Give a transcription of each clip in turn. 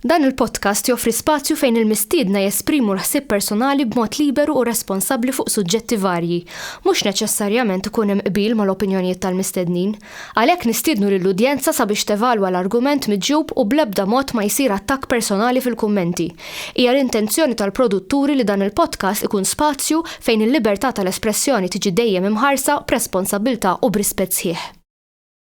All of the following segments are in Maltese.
Dan il-podcast joffri spazju fejn il-mistiedna jesprimu l-ħsieb personali b'mod liberu u responsabbli fuq suġġetti varji. Mhux neċessarjament ikun hemm qbil mal-opinjonijiet tal-mistednin. Għalhekk nistiednu lill-udjenza sabiex tevalwa l-argument miġjub u bl-ebda mod ma jsir attakk personali fil-kummenti. Hija l-intenzjoni tal-produtturi li dan il-podcast ikun spazju fejn il-libertà tal-espressjoni tiġi dejjem imħarsa b'responsabbiltà u b'rispett sħiħ.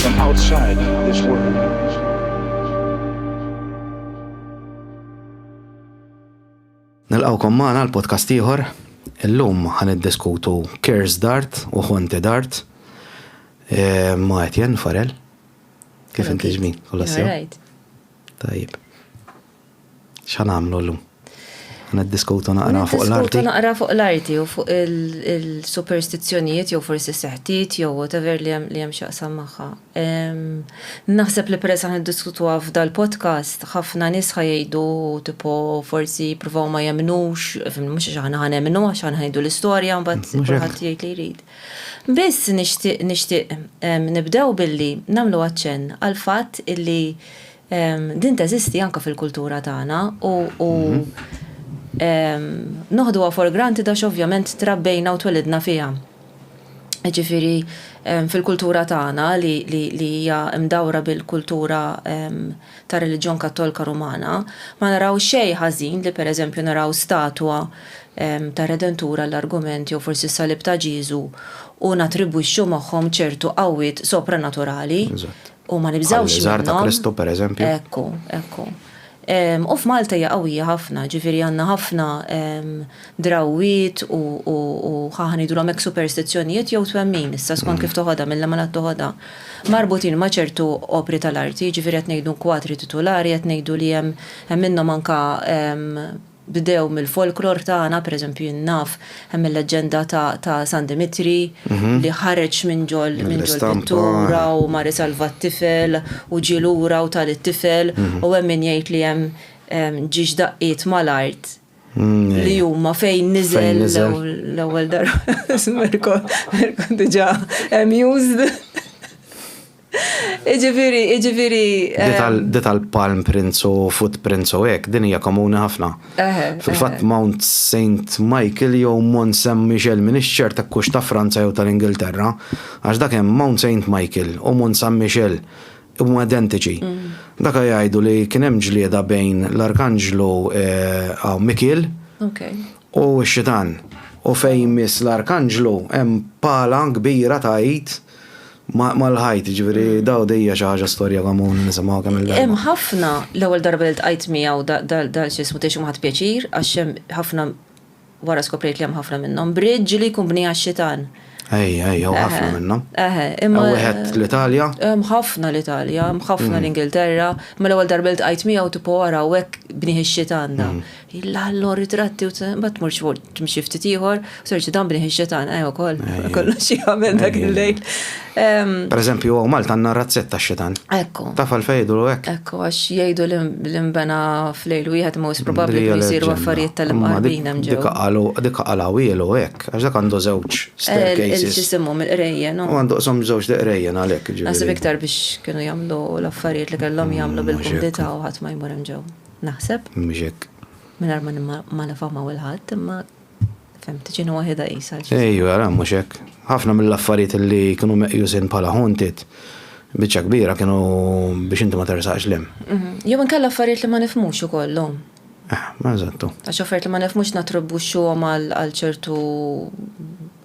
from outside this world. Nilqawkom magħna l-podcast ieħor. Illum ħan iddiskutu Kers Dart u Honte Dart eh, ma' Etienne Farel. Kif inti ġmin? Tajjeb. X'ħa nagħmlu llum? Niddiskutu naqra fuq l-arti. Niddiskutu naqra fuq l-arti u fuq il-superstizzjonijiet jew forsi seħtiet jew whatever li hemm x'jaqsam magħha. Naħseb li peress aħna niddiskutuha f'dal-podcast, ħafna nies ħa jgħidu tipo forsi jippruvaw ma jemmnux, mhux għax aħna ħa nemmnu għax aħna ħa ngħidu l-istorja u mbagħad kulħadd jgħid li jrid. Biss nixtieq nibdew billi nagħmlu aċċenn għall-fatt illi Din teżisti anke fil-kultura tagħna u noħduha for granted għax ovvjament trabbejna u twelidna fiha. Jiġifieri fil-kultura tagħna li hija mdawra bil-kultura tar-reliġjon Kattolka Rumana, ma naraw xejn ħażin li pereżempju naraw statwa tar-Redentur għall-argument jew forsi s-Salib ta' Ġieżu u nattribwixxu magħhom ċertu qawwiet sopranaturali. U ma nibżgħux minnhom. Żgħar ta' Kristu pereżempju. Ekku, ekku. U f'Malta hija qawwija ħafna, ġifieri għandna ħafna drawwiet u ħaħa ngħidulhom hekk superstizzjonijiet jew twemmin issa skont kif toħodha, minn liema lat toħodha, marbutin ma' ċertu opri tal-arti, ġifieri qed ngħidu kwatri titulari, qed ngħidu li hemm minnhom anke Bdew mill-folklor tagħna, pereżempju jien naf hemm il-leġġenda ta' San Dimitri li ħareġ minn ġol pittura u mar isalva t-tifel u ġie lura u ta lit-tifel u hemm min jgħid li hemm ġiex daqqiet mal-art li huma fejn niżel l-ewwel darba. Mirko diġà amused. Iġifiri, iġifiri. Dit għal palm prints u footprints u hekk, din hija komuni ħafna. Fil-fatt Mount Saint Michael jew Mont Saint Michel minix ċert hekk hux ta' Franza jew tal-Ingilterra, għax dak hemm Mount Saint Michael u Mont Saint Michel huma identiċi. Dak jgħidu li kien hemm ġlieda bejn l-Arkanġlu Mikiel u x-Xitan. U fejn miss l-Arkanġlu hemm pala kbira ta' id. Mal-ħajt, jiġifieri mm. daw dejja xi ħaġa storja komuni nisimgħu kemm il-darba. Hemm ħafna l-ewwel darba li tqajt miegħu dal xi ismu tgħixu ma ħadd pjaċir għax hemm ħafna wara skoprejt li hemm ħafna minnhom. Bridge li jkun bni għax-xitan. Ej, ej, jew ħafna minnhom. Eħe, imma. Wieħed l-Italja? Hemm ħafna l-Italja, hemm ħafna mm. l-Ingilterra, ma l-ewwel darba li tqajt miegħu tipo wara hekk bniħ ix-xitan da. Mm. Illa allor ritratti u ma tmurx fuq timxi ftit ieħor, u terġa' dan bniħ ix-xetan ejja wkoll kollox jagħmel dak il-lejl. Per eżempju, hawn Malta għandna razzett tax-xetan. Ekku. Taf għalfejn jgħidulu hekk? Ekku, għax jgħidu li nbena f'lejl wieħed most probabbli kienu jsiru affarijiet tal-imqarbin hemm ġewwa. Dik qalu, dik qalawhielu hekk, għax dak għandu żewġ staircases. Ejja, x'isimhom il-qrejjen, no? U għandu qshom żewġ deqrejjen għalhekk, ġifieri. Naħseb iktar biex kienu jagħmlu l-affarijiet li kellhom jagħmlu bil-kumdità u ħadd ma jmur hemm ġewwa. naħseb. Mhux hekk. Mingħajr ma nimmalafamaw il-ħadd, imma fem tiġina waħda qisha. Ejju, ara mhux hekk. Ħafna mill-affarijiet li kienu meqjusin bħala haunted biċċa kbira kienu biex inti ma tersaqx lem. Mhm. Jew inkella affarijiet li ma nifmux ukollhom. Eh, ma eżattu. Għax affarijiet li ma nifmux natribbuxxuhom għal ċertu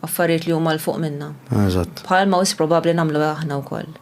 affarijiet li huma l fuq minna. Eżatt. Bħalma wis probabbli nagħmlu aħna wkoll.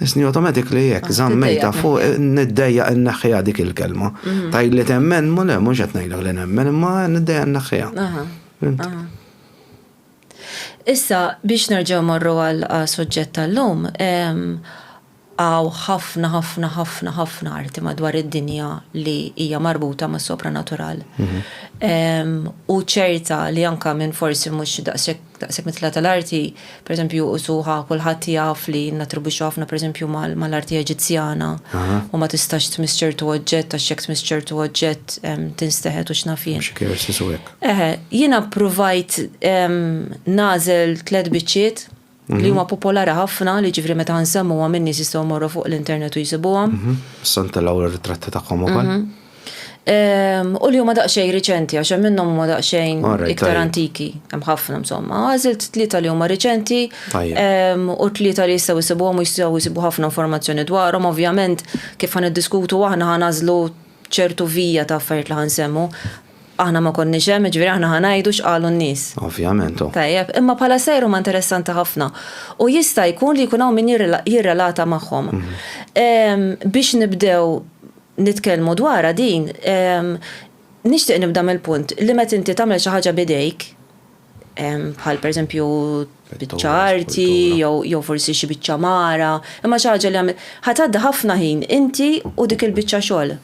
Isni automatically jekk zammejta fuq niddejja n-naħħija dik il-kelma. Mhm. Tajd li temmen, mu le, mux għetnajlek li nemmen, imma niddejja n-naħħija. Issa, biex nerġaw marru għal soġġett tal-lum, għaw ħafna, ħafna, ħafna, ħafna arti madwar id-dinja li hija marbuta ma' sopranatural. Mhm. U ċerta li anka minn forsi mux daqsek Daqshekk mit-tla tal-arti, pereżempju, usuha kulħadd jaf li nattribwixxu ħafna pereżempju mal-arti Eġizzjana u ma tistax tmiss ċertu oġġett għax jekk tmiss ċertu oġġett tinsteħet u x'naf jien. Xi curses u hekk. Eħe, jiena ppruvajt nagħżel tliet biċċiet li huma popolari ħafna li jiġifieri meta nsemmuhom in-nies jistgħu jmorru fuq l-internet u jsibuhom. Issa ntelgħu r-ritratti tagħhom ukoll. Ehm, u li huma daqsxejn riċenti għax hemm minnhom huma daqsxejn iktar antiki, hemm ħafna insomma. Għażilt tlieta li huma riċenti ehm, u tlieta li jistgħu jsibuhom u jistgħu jsibu ħafna informazzjoni dwarhom, ovvjament kif ħan iddiskutu aħna ħan għażlu ċertu vija ta' affarijiet li ħan semmu. Aħna ma konniex hemm, ġifieri aħna ħan ngħidu x'qalu n-nies. Ovvjament. Oh. Tajjeb, imma bħala sejr huma interessanti ħafna u jista' jkun li jkun hawn min jirrelata magħhom. Mhm. Ehm, biex nibdew nitkellmu dwarha din, nixtieq nibda mill-punt li meta inti tagħmel xi ħaġa b'idejk, bħal pereżempju biċċa arti jew forsi xi biċċa mara, imma xi ħaġa li għamilt, ħa tgħaddi ħafna ħin inti u dik il-biċċa xogħol.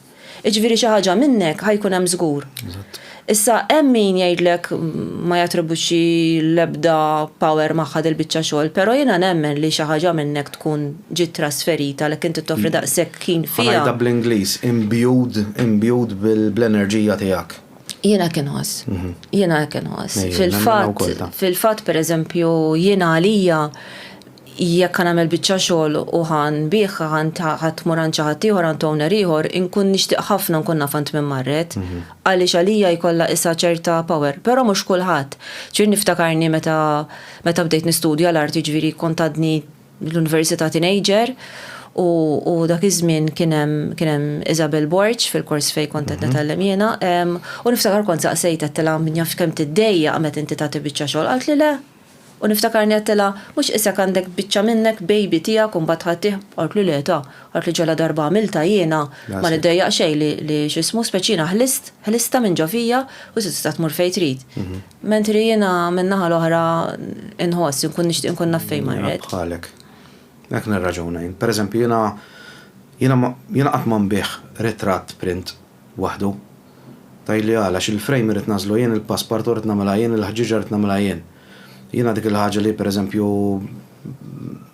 Jiġifieri xi ħaġa minnek ħa jkun hemm żgur. Issa hemm min jgħidlek ma jattribwixxi l-ebda power magħha dil-biċċa xogħol, però jiena nemmen li xi ħaġa minnhekk tkun ġiet trasferita għalhekk inti toffri daqshekk ħin fiha. Ħa ngħidha bl-Ingliż, imbued, imbued bl-enerġija tiegħek. Jiena hekk inħoss. Jiena hekk inħoss. Fil-fatt, fil-fatt pereżempju jiena għalija, Jekk ħa nagħmel biċċa xogħol u ħa nbiegħha għand ħa tmur għand xi ħadd ieħor, għand owner ieħor, inkun nixtieq ħafna nkun naf għand min marret, għaliex għalija jkollha isha ċerta power. Però mhux kulħadd. Ġifieri niftakarni meta meta bdejt nistudja l-art jiġifieri kont għadni l-università teenager u u dak iż-żmien kien hemm kien hemm Isabel Borg fil-kors fejn kont qed nitgħallem jiena u niftakar kont saqsejtha għedtilha naf kemm tiddejjaq meta inti tagħti biċċa xogħol qaltli le. U niftakarni għedtilha, Mhux qisek għandek biċċa minnek, baby, tiegħek u mbagħad tħattih? Qaltli, Le, ta. Qaltli, Ġala darba għamiltha jiena, ma niddejjaq xejn li, li x'ismu, speċi jiena ħlist, ħlistha minn ġo fija u issa tista' tmur fejn trid. Mentri jiena min-naħa l-oħra inħoss, inkun nixtieq inkun naf fejn marret. Nilgħab bħalek. Hekk nirraġuna jien. Pereżempju, jiena, jiena, jiena qatt ma nbigħ ritratt print. waħdu. Tgħidli għala, għax il-frame irrid nagħżlu jien, il-passepartout rrid nagħmilha jien, il-ħġieġa rrid nagħmilha jien. Jiena dik il-ħaġa li pereżempju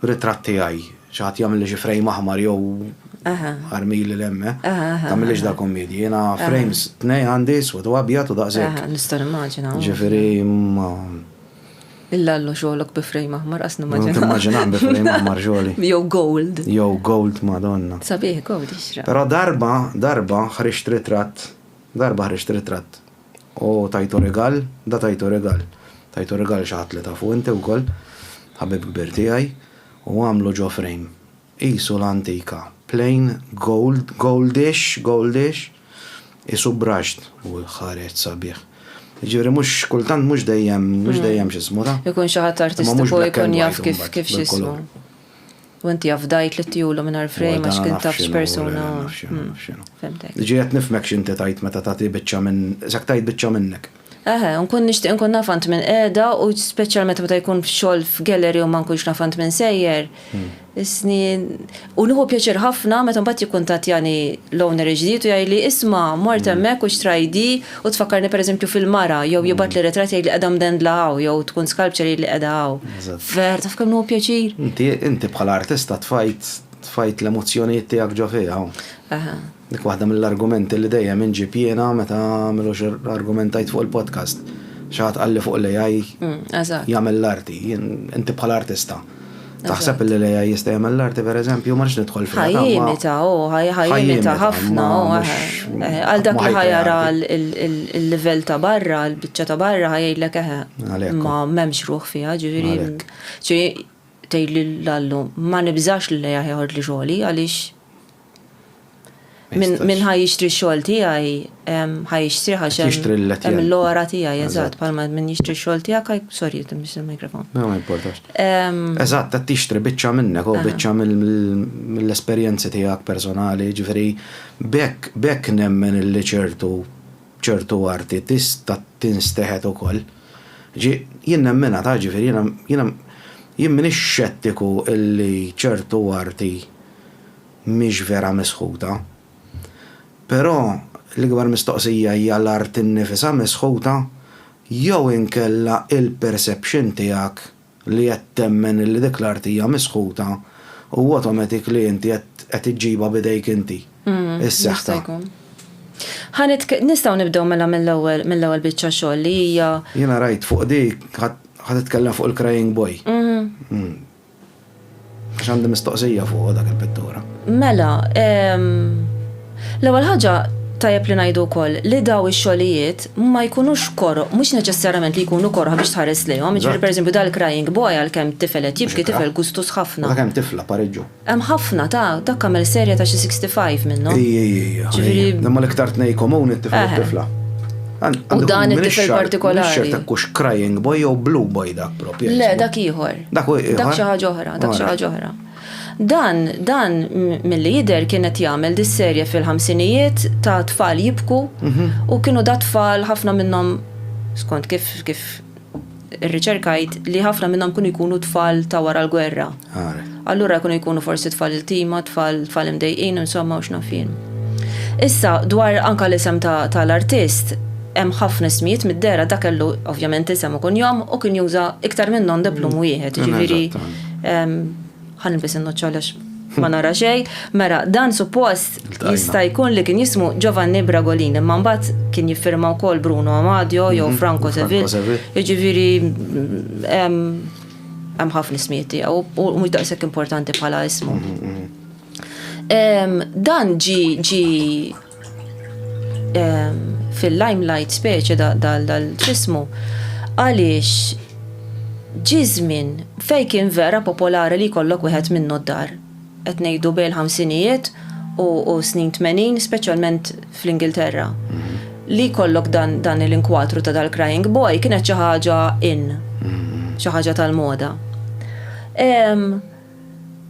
ritratt tiegħi, xi ħadd jagħmilli xi frame aħmar jew ħarmili 'l hemm, tagħmilix dal-kummedji. Jiena frames tnejn għandi, iswed u abjad u daqshekk. Nista' nimmaġina. Ġifieri ma. Illallo xogħlok bi frame aħmar qas nimmaġinaħ. Timmaġinaħ bi frame aħmar xogħli. Jew gold. Jew gold madonna. Sabiħ gold jixraq. Però darba, darba ħriġt ritratt, darba ħriġt ritratt u tajtu rigal, da tajtu rigal. Tajtu rigal xi ħadd li tafu inti wkoll, ħabib kbir tiegħi, u għamlu ġo frame. Qisu l-antika. Plain gold, goldish, goldish, qisu brushed u ħareġ sabiħ. Jiġifieri mhux kultant mhux dejjem, mhux dejjem x'ismu ta'. Ikun xi ħadd artistiku jkun jaf kif kif x'ismu. U inti afdajt li ttiehulu mingħajr frame għax kien taf x'persuna. Fhimtek. Ġiet nifhmek x'inti tgħid meta tagħti biċċa minn, isek tgħid biċċa minnek. Eħe, u nkun nixtieq inkun naf għand min qiegħda u speċjalment meta jkun f'xogħol f'gallery u ma nkunx naf għand min sejjer. Is-snin. U nieħu pjaċir ħafna meta mbagħad jikkuntattjani l-owner il-ġdid u jgħidli isma' mort hemmhekk u xtrajt di u tfakkarni pereżempju fil-mara jew jibgħatli ritratt jgħidli qiegħda mdendla hawn jew tkun sculpture jgħidli qiegħda hawn. Vera, taf kemm nieħu pjaċir? Inti bħala artista tfajt tfajt l-emozzjonijiet tiegħek ġo fiha. Eħe. Dik waħda mill-argumenti li dejjem inġib jiena meta m'ilux argumentajt fuq il-podcast. Xi ħadd qalli fuq l-AI mm, jagħmel l-arti, inti bħala artista. Taħseb li l-AI jista' jagħmel l-arti pereżempju, ma nidħol fil Ħajjimita, u oh, ħajjimita ħafna, oh, eh, eh, għal dak li ħajara l-livell ta' barra, l-biċċa ta' barra ħajjilek eħe. Eh, ma m'hemmx ruħ fiha, ġifieri. Ġifieri tgħid l-allu, ma nibżax li l-AI ħajħod li xogħli għaliex Min ħaj jixtri xogħol tiegħi, ħaj jixtri għax hemm l-ora tiegħi, eżatt, palma min jixtri xogħol tiegħek għaj, sorry, jittim biex il-mikrofon. No, ma importax. Eżatt, ta' tixtri biċċa minnek, u biċċa mill-esperjenzi tiegħek personali, ġifri, bekk nemmen li ċertu ċertu arti tista' tinsteħet ukoll. Ġi, jien nemmena ta' ġifri, jien minix xettiku illi ċertu arti mhix vera misħuta. Però l-ikbar mistoqsija hija l-art innifisha misħuta jew inkella il-perception tiegħek li qed temmen illi dik l-art hija misħuta u automatic li inti qed iġġibha b'idejk inti, is-seħta. Nistgħu nibdew mela mill-ewwel, mill-ewwel biċċa xogħol li hija. Jiena rajt fuq dik, ħa titkellem fuq il-crying boy. Għax għandi mistoqsija fuq dak il-pittura. Mela, l-ewwel ħaġa tajjeb li ngħidu wkoll li daw ix-xogħlijiet ma jkunux koroh, mhux neċessarjament li jkunu koroh biex tħares lejhom, jiġifieri pereżempju dal-Crying Boy għalkemm tifel qed jibki, tifel gustus ħafna. Dak hemm tifla Pariġġu. Hemm ħafna ta', dak għamel serje ta' xi 65 minnhom. Ijijija. Ġifieri. Imma l-iktar tnejn komuni t-tifel u t-tifla. U dan it-tifel partikolari. X'xorta kux Crying Boy jew Blue Boy dak propju. Le, dak ieħor. Dak xi ħaġa oħra, dak xi ħaġa oħra. Dan, dan mill-li jider kienet jagħmel dis-serje fil-ħamsinijiet ta' tfal jibku mhm. u kienu da' tfal ħafna minnhom skont kif kif irriċerkajt li ħafna minnhom kienu jkunu tfal ta' wara l-gwerra. Allura kienu jkunu forsi tfal il-tima, tfal tfal imdejqin, insomma u x'nafin. Issa dwar anka l-isem tal-artist, Hemm ħafna ismijiet mid-dehra, dak kellu ovvjament isem u kunjom u kien juża iktar minn non de plume wieħed, jiġifieri ħa nilbes in-nuċċ għaliex ma nara xejn. Mela, dan suppost jista' jkun li kien jismu Giovanni Bragolin, imma mbagħad kien jiffirma wkoll Bruno Amadio jew Franco Sevil. Jiġifieri hemm ħafna ismijiet tiegħu u mhux daqshekk importanti bħala ismu. Dan ġie fil-limelight speċi dal-ġismu għaliex ġi żmien fejn kien vera popolari li jkollok wieħed minnu d-dar. Qed ngħidu bejn il-ħamsinijiet u snin tmenin, speċjalment fl-Ingilterra. Li jkollok dan l-inkwatru ta' dal-crying boy kienet xi ħaġa in, xi ħaġa tal-moda.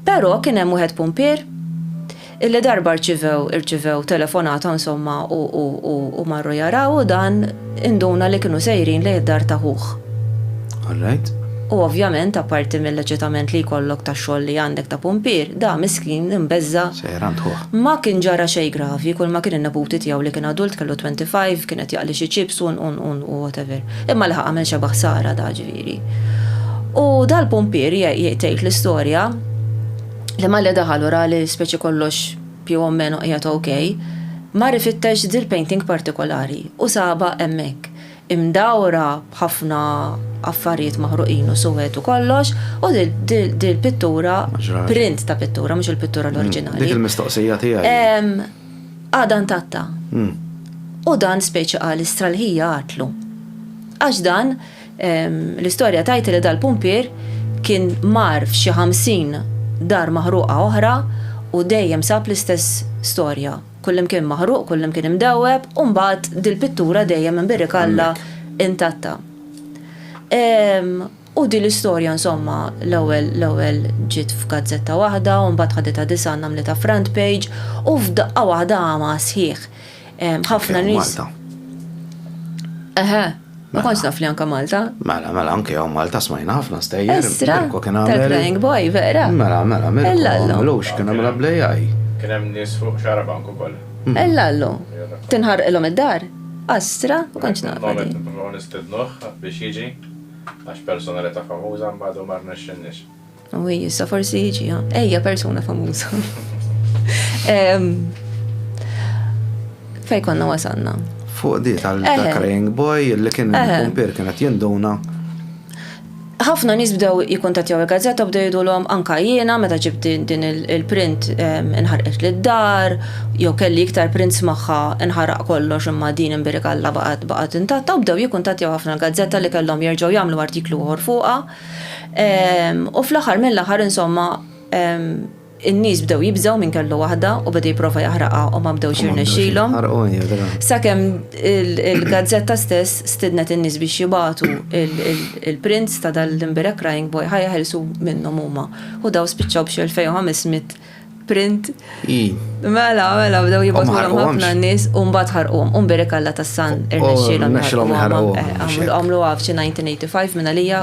Pero' kien hemm wieħed pumpier illi darba rċivew irċivew telefonata insomma u u u u marru jaraw u dan induna li kienu sejrin lejn id-dar ta' ħuh. All right. U ovvjament apparti mill-eċitament li jkollok tax-xogħol li għandek ta' pumpier, da miskin imbeżża'. Sejjer għand ħuh. Ma kien ġara xejn gravi, kulma kien in-neputi tiegħu li kien adult kellu 25 kien qed jaqli xi chips u u u whatever. Imma laħaq għamel xebgħa ħsara da ġifieri. il-pumpieri. U dal-pumpieri jgħid l-istorja li malli daħal u ra li speċi kollox più o meno qiegħed ok, mar ifittex dil-painting partikolari u saba hemmhekk imdawra b'ħafna affarijiet maħruqin u suwed u kollox u dil-pittura, print ta' pittura, mhux il-pittura l-oriġinali. Dik il-mistoqsija tiegħi. Għadan tatta. U dan speċi għal istralħija għatlu. Għax dan L-istorja tgħid li dal-pumpier kien mar f'xi ħamsin dar maħruqa oħra u dejjem sab l-istess storja, kullimkien maħruq, kullimkien imdewweb u mbagħad dil-pittura dejjem imbirrikalla intatta. U din l-istorja insomma l-ewwel l-ewwel ġiet f'gazzetta waħda u mbagħad ħaditha Di San għamlitha front page u f'daqqa waħda għama sħiħ. Ħafna nies. Eħe, ma konx naf li anka Malta. Mela, mela, anke għaw Malta smajna ħafna stejjer. Estra, tal-Flying Boy, vera. Mela, mela, mela. Ella l-lum. Lux, kena mela blejaj. Kena mnis fuq xaraban kukol. Mm. Ella l-lum. Tinħar il-lum id-dar. Astra, ma konx naf. Moment, nipruvaw nistednuħ biex jiġi, għax personalita famuza mbadu marna xinniex. U hi issa forsi jiġi, ejja persuna famuża. Fej konna wasanna. Fuq di tal-Crying Boy li kien kumpir kienet jinduna ħafna nis bdew jikontatjaw il-gazzetta bdew jidulhom anka jiena meta ġibt din il-print inħarqet lid dar jew kelli iktar prints magħha inħaraq kollox imma din imbirikalla baqgħet baqgħet intatta u bdew jikkuntattjaw ħafna l-gazzetta li kellhom jerġgħu jagħmlu artiklu ieħor fuqha. U fl-aħħar mill-aħħar insomma in-nies bdew jibżgħu minn kellu waħda u beda jipprova jaħraqha u ma bdewx jirnexxilhom. Sakemm il-gazzetta stess stidnet in-nies biex jibagħtu il-prints ta' dal-Limbureg Crying Boy ħa jeħilsu minnhom huma. U daw spiċċaw b'xi 2,500 Print. Mela, mela, bdew jibgħatulhom ħafna nies u mbagħad ħarquhom. U mbierek Alla tas-san irnexxielhom ħarquhom. Għamlu għaf xi 1985 minn għalija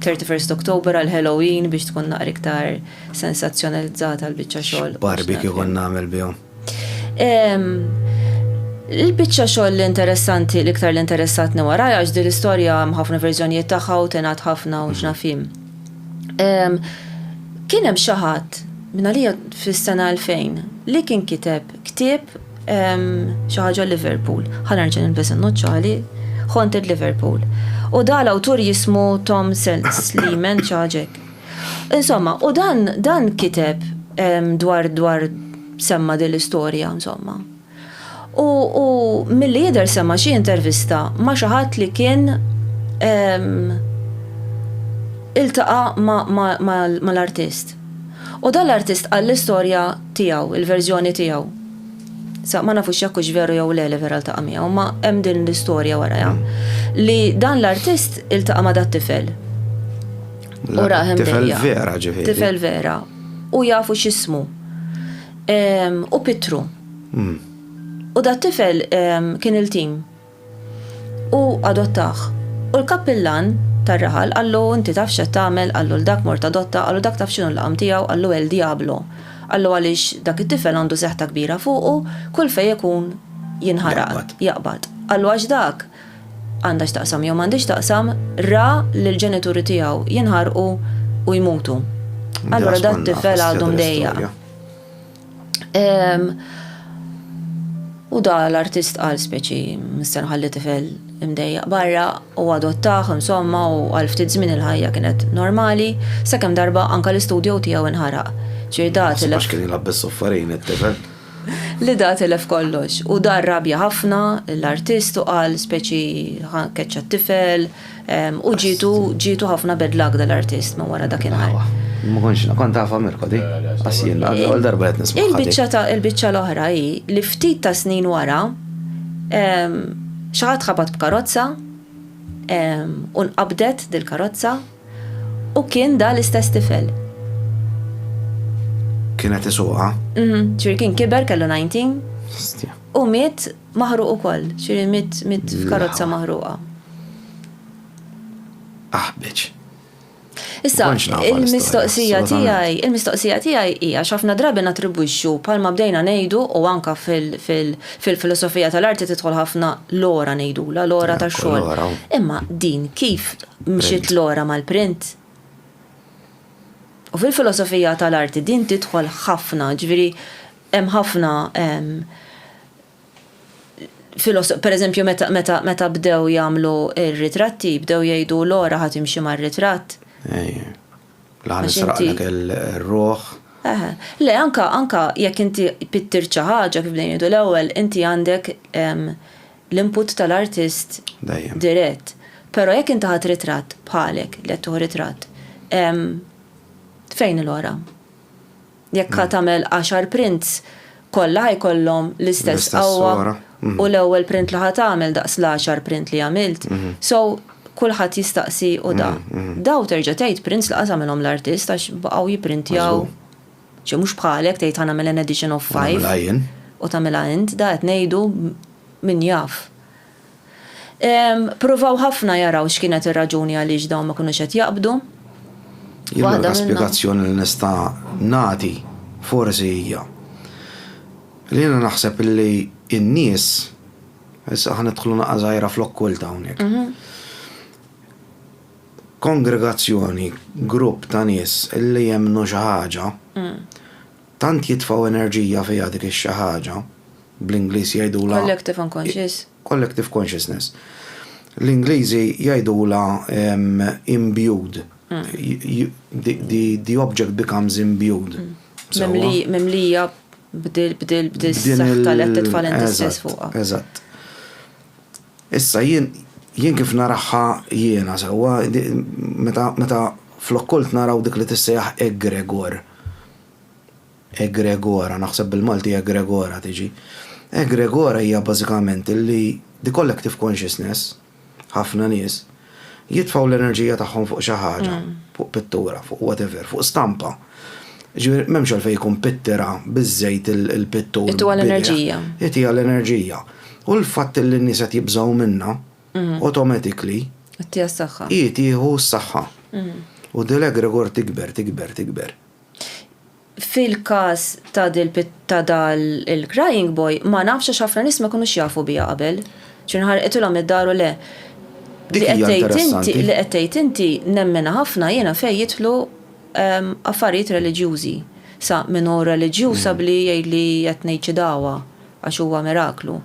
31 Oktober għal Halloween biex tkun naqra iktar sensazzjonalizzata l-biċċa xogħol. Barbecue kont nagħmel bihom. Il-biċċa xogħol interessanti l-iktar li interessatni wara għax din l-istorja hemm ħafna verżjonijiet tagħha u tingħad ħafna u x'nafim. Kien hemm xi ħadd minn għalija fis-sena 2000 li kien kiteb ktieb xi ħaġa Liverpool. Ħa nerġa' nilbes in-noċċali Haunted Liverpool. U da l-awtur jismu Tom Seltz li men ċaġek. Insomma, u dan, dan kiteb dwar, dwar semma din l-istorja, insomma. U, u milli jidher semma xi intervista ma' xi ħadd li kien iltaqa' mal-artist. U dan l-artist qal l-istorja tiegħu, il-verżjoni tiegħu. Sa ma nafux jekk hux veru jew le li vera ltaqa' miegħu, imma hemm din l-istorja warajha. Li dan l-artist iltaqa' ma' dat-tifel. U raħem Tifel vera ġifieri. Tifel vera. U jafu x'ismu. U Pitru. Hmm. U da tifel kien il-tim. U adottaħ. U l-kappillan tar-raħal għallu inti taf x'qed tagħmel, għallu l-dak mort adotta, għallu dak taf x'inhu l-qam tiegħu, għallu El Diablo. Għallu għaliex dak it-tifel għandu seħta kbira fuqu, kull fejn ikun jinħaraq, jaqbad. Għallu għax dak għandha x'taqsam jew m'għandhiex taqsam, ra lil ġenituri tiegħu jinħarqu u jmutu. Allura dat tifel għadu mdejjaq. U da l-artist qal speċi mister ħalli tifel imdejjaq barra u adottaħ insomma u għal ftit żmien il-ħajja kienet normali, sakemm darba anka l-istudju tiegħu inħaraq. Ġirdat. Għax kien jilgħab bis-soffarin it-tifel. Lida tilef kollox u dar rabja ħafna l-artist u qal speċi ħa keċċa t-tifel u ġietu ġietu ħafna bad luck dal-artist minn wara dakinhar. Ma kontx naf, kont nafha Mirko di? Qass jien l-ewwel darba qed nismagħha di. Il-biċċa ta' il-biċċa l-oħra hi li ftit ta' snin wara xi ħadd ħabat b'karozza u nqabdet dil-karozza. U kien da l-istess tifel. Kien qed isuqha? Mhm, ġifieri kien kiber kellu 19. Stja. U miet maħruq ukoll, ġifieri miet miet f'karozza maħruqa. Aħbeġ. Issa, il-mistoqsija tiegħi, il-mistoqsija tiegħi hija x'ħafna drabi natribwixxu bħalma bdejna ngħidu u anka fil-filosofija tal-arti tidħol ħafna lora ngħidula, lora tax-xogħol. Imma din kif Mxiet lura mal-print. U fil-filosofija tal-arti din tidħol ħafna, ġifieri hemm ħafna per eżempju meta bdew jagħmlu r-ritratti, bdew jgħidu l-ora ħadd imxi mar-ritratt. Laħan nisraqlek il-ruħ. Le, anka anka jekk inti pittir xi ħaġa kif bdejn jgħidu l-ewwel, inti għandek l-input tal-artist dirett. Però jekk inti ħadt ritratt bħalek li qed tieħu ritratt, fejn il-għora? Jekk ħa tagħmel għaxar prints, kollha ħa jkollhom l-istess qawwa u l-ewwel print li ħa tagħmel daqs l-għaxar print li għamilt. So, kulħadd jistaqsi u da. Da u terġa' tgħid prints li qas għamilhom l-artist għax baqgħu jipprintjaw. Ċe mhux bħalek tgħid ħa nagħmel an addition of five. U nagħmilha jien. U tagħmilha int, da qed ngħidu min jaf. Pruvaw ħafna jaraw x'kienet ir-raġuni għaliex dawn ma kinux qed jaqbdu. Jien l-unika spjegazzjoni li nista' nagħti forsi hija li jiena naħseb li n-nies, issa ħa nidħlu naqra żgħira fl-okkult hawnhekk. Kongregazzjoni, grupp ta' nies li jemmnu xi ħaġa, tant jitfgħu enerġija fiha dik ix-xi ħaġa, bl-Ingliż jgħidulha, Collective unconscious. Collective consciousness. L-Ingliżi jgħidulha imbued, the object becomes imbued. Mimlija b'dil-saħħa li qed titfa' l-int stess fuqha. Eżatt. Issa jien, jien kif narahha jiena sewwa, meta, meta fl-okkult naraw dik li tissejjaħ egregor, egregora, naħseb bil-Malti egregora tiġi, egregora hija bażikament li the collective consciousness, ħafna nies, jitfgħu l-enerġija tagħhom fuq xi ħaġa, fuq pittura, fuq whatever, fuq stampa. Ġifieri m'hemmx għalfejn jkun pittera biż-żejt il-pittur. Itiha l-enerġija. Itiha l-enerġija. U l-fatt li n-nies qed jibżgħu minnha, automatically. Itiha s-saħħa. Hi tieħu s-saħħa. U Dil Egregor tikber, tikber, tikber. Fil-każ ta' dil ta' dal il-Crying Boy, ma nafx għax ħafna nies ma jkunux jafu biha qabel. Ġifieri nħarqithilhom id-dar u le. Dik hija interessanti. Li qed tgħid inti nemminha ħafna jiena fejn jidħlu affarijiet reliġjużi. Sa min hu reliġjuż abli jgħidli qed ngħid xi dagħwa għax huwa miraklu.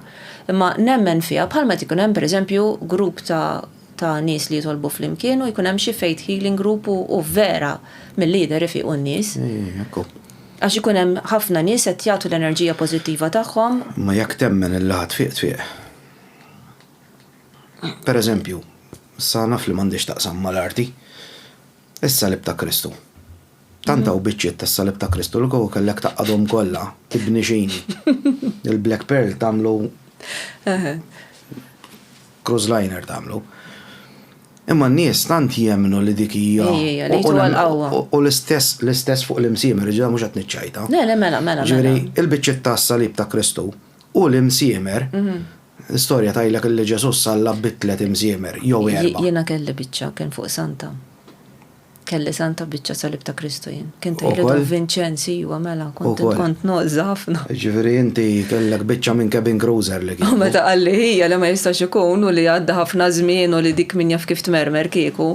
Imma nemmen fiha bħalma qed ikun hemm pereżempju grupp ta' ta' nies li jitolbu flimkien u jkun hemm xi faith healing group u vera milli jidher ifiqu n-nies. Għax ikun hemm ħafna nies qed jagħtu l-enerġija pożittiva tagħhom. Imma jekk temmen li laħa tfiq tfiq. Pereżempju, issa naf li m'għandhiex x'taqsam mal-arti, Is-salib ta' Kristu. Tant hawn biċċiet tas-salib ta' Kristu li kieku kellek tgħaqqadhom kollha, ibni xini. Il-black pearl tagħmlu cruise liner tagħmlu. Imma n-nies tant jemnu li dik hija. U l-istess l-istess fuq l-imsiemer, ġda mhux qed niċċajta. Le, le, mela, mela. Ġifieri, mela. il-biċċiet tas-salib ta' Kristu u l-imsiemer mhm. L-istorja tgħidlek li Ġesu' salla bit-tliet imżiemer, jew erbgħa. Jiena kelli biċċa kien fuq Santa. Kelli Santa biċċa Salib ta' Kristu jien. Kien tgħidli Don Vinċenz, ijwa mela, kont kont noqża ħafna. Jiġifieri inti kellek biċċa minn cabin cruiser li kieku. U meta qalli hija li ma jistax ikun u li għadda ħafna żmien u li dik min jaf kif tmermer kieku,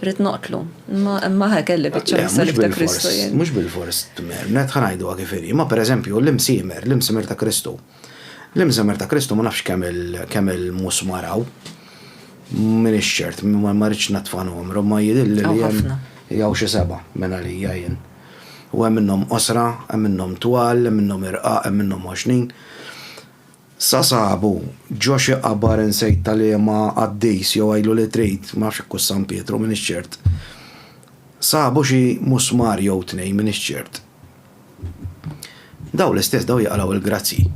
ridt noqtlu. Imma imma ħa kelli biċċa mis-Salib ta' Kristu jien. Mhux bilfors tmermret, ħa ngħiduha kif inhi. Imma pereżempju l-imsiemer, l-imsiemer ta' Kristu. L-Imżammer ta' Kristu ma nafx kemm il-musmar hawn. M'iniex ċert, ma rridx natfa' numru, imma jidhirli li hemm. Hawn xi seba' minn għalija jien. U hemm minnhom qosra, hemm minnhom twal, hemm minnhom irqaq, hemm minnhom għoxnin. Sa sabu ġo xi qabar insejt ta' liema qaddis jew għidlu li trid, ma nafx jekk hux San Pietru, m'iniex ċert. Sabu xi musmar jew tnejn, m'iniex ċert. Daw l-istess daw jaqlaw il-grazzji.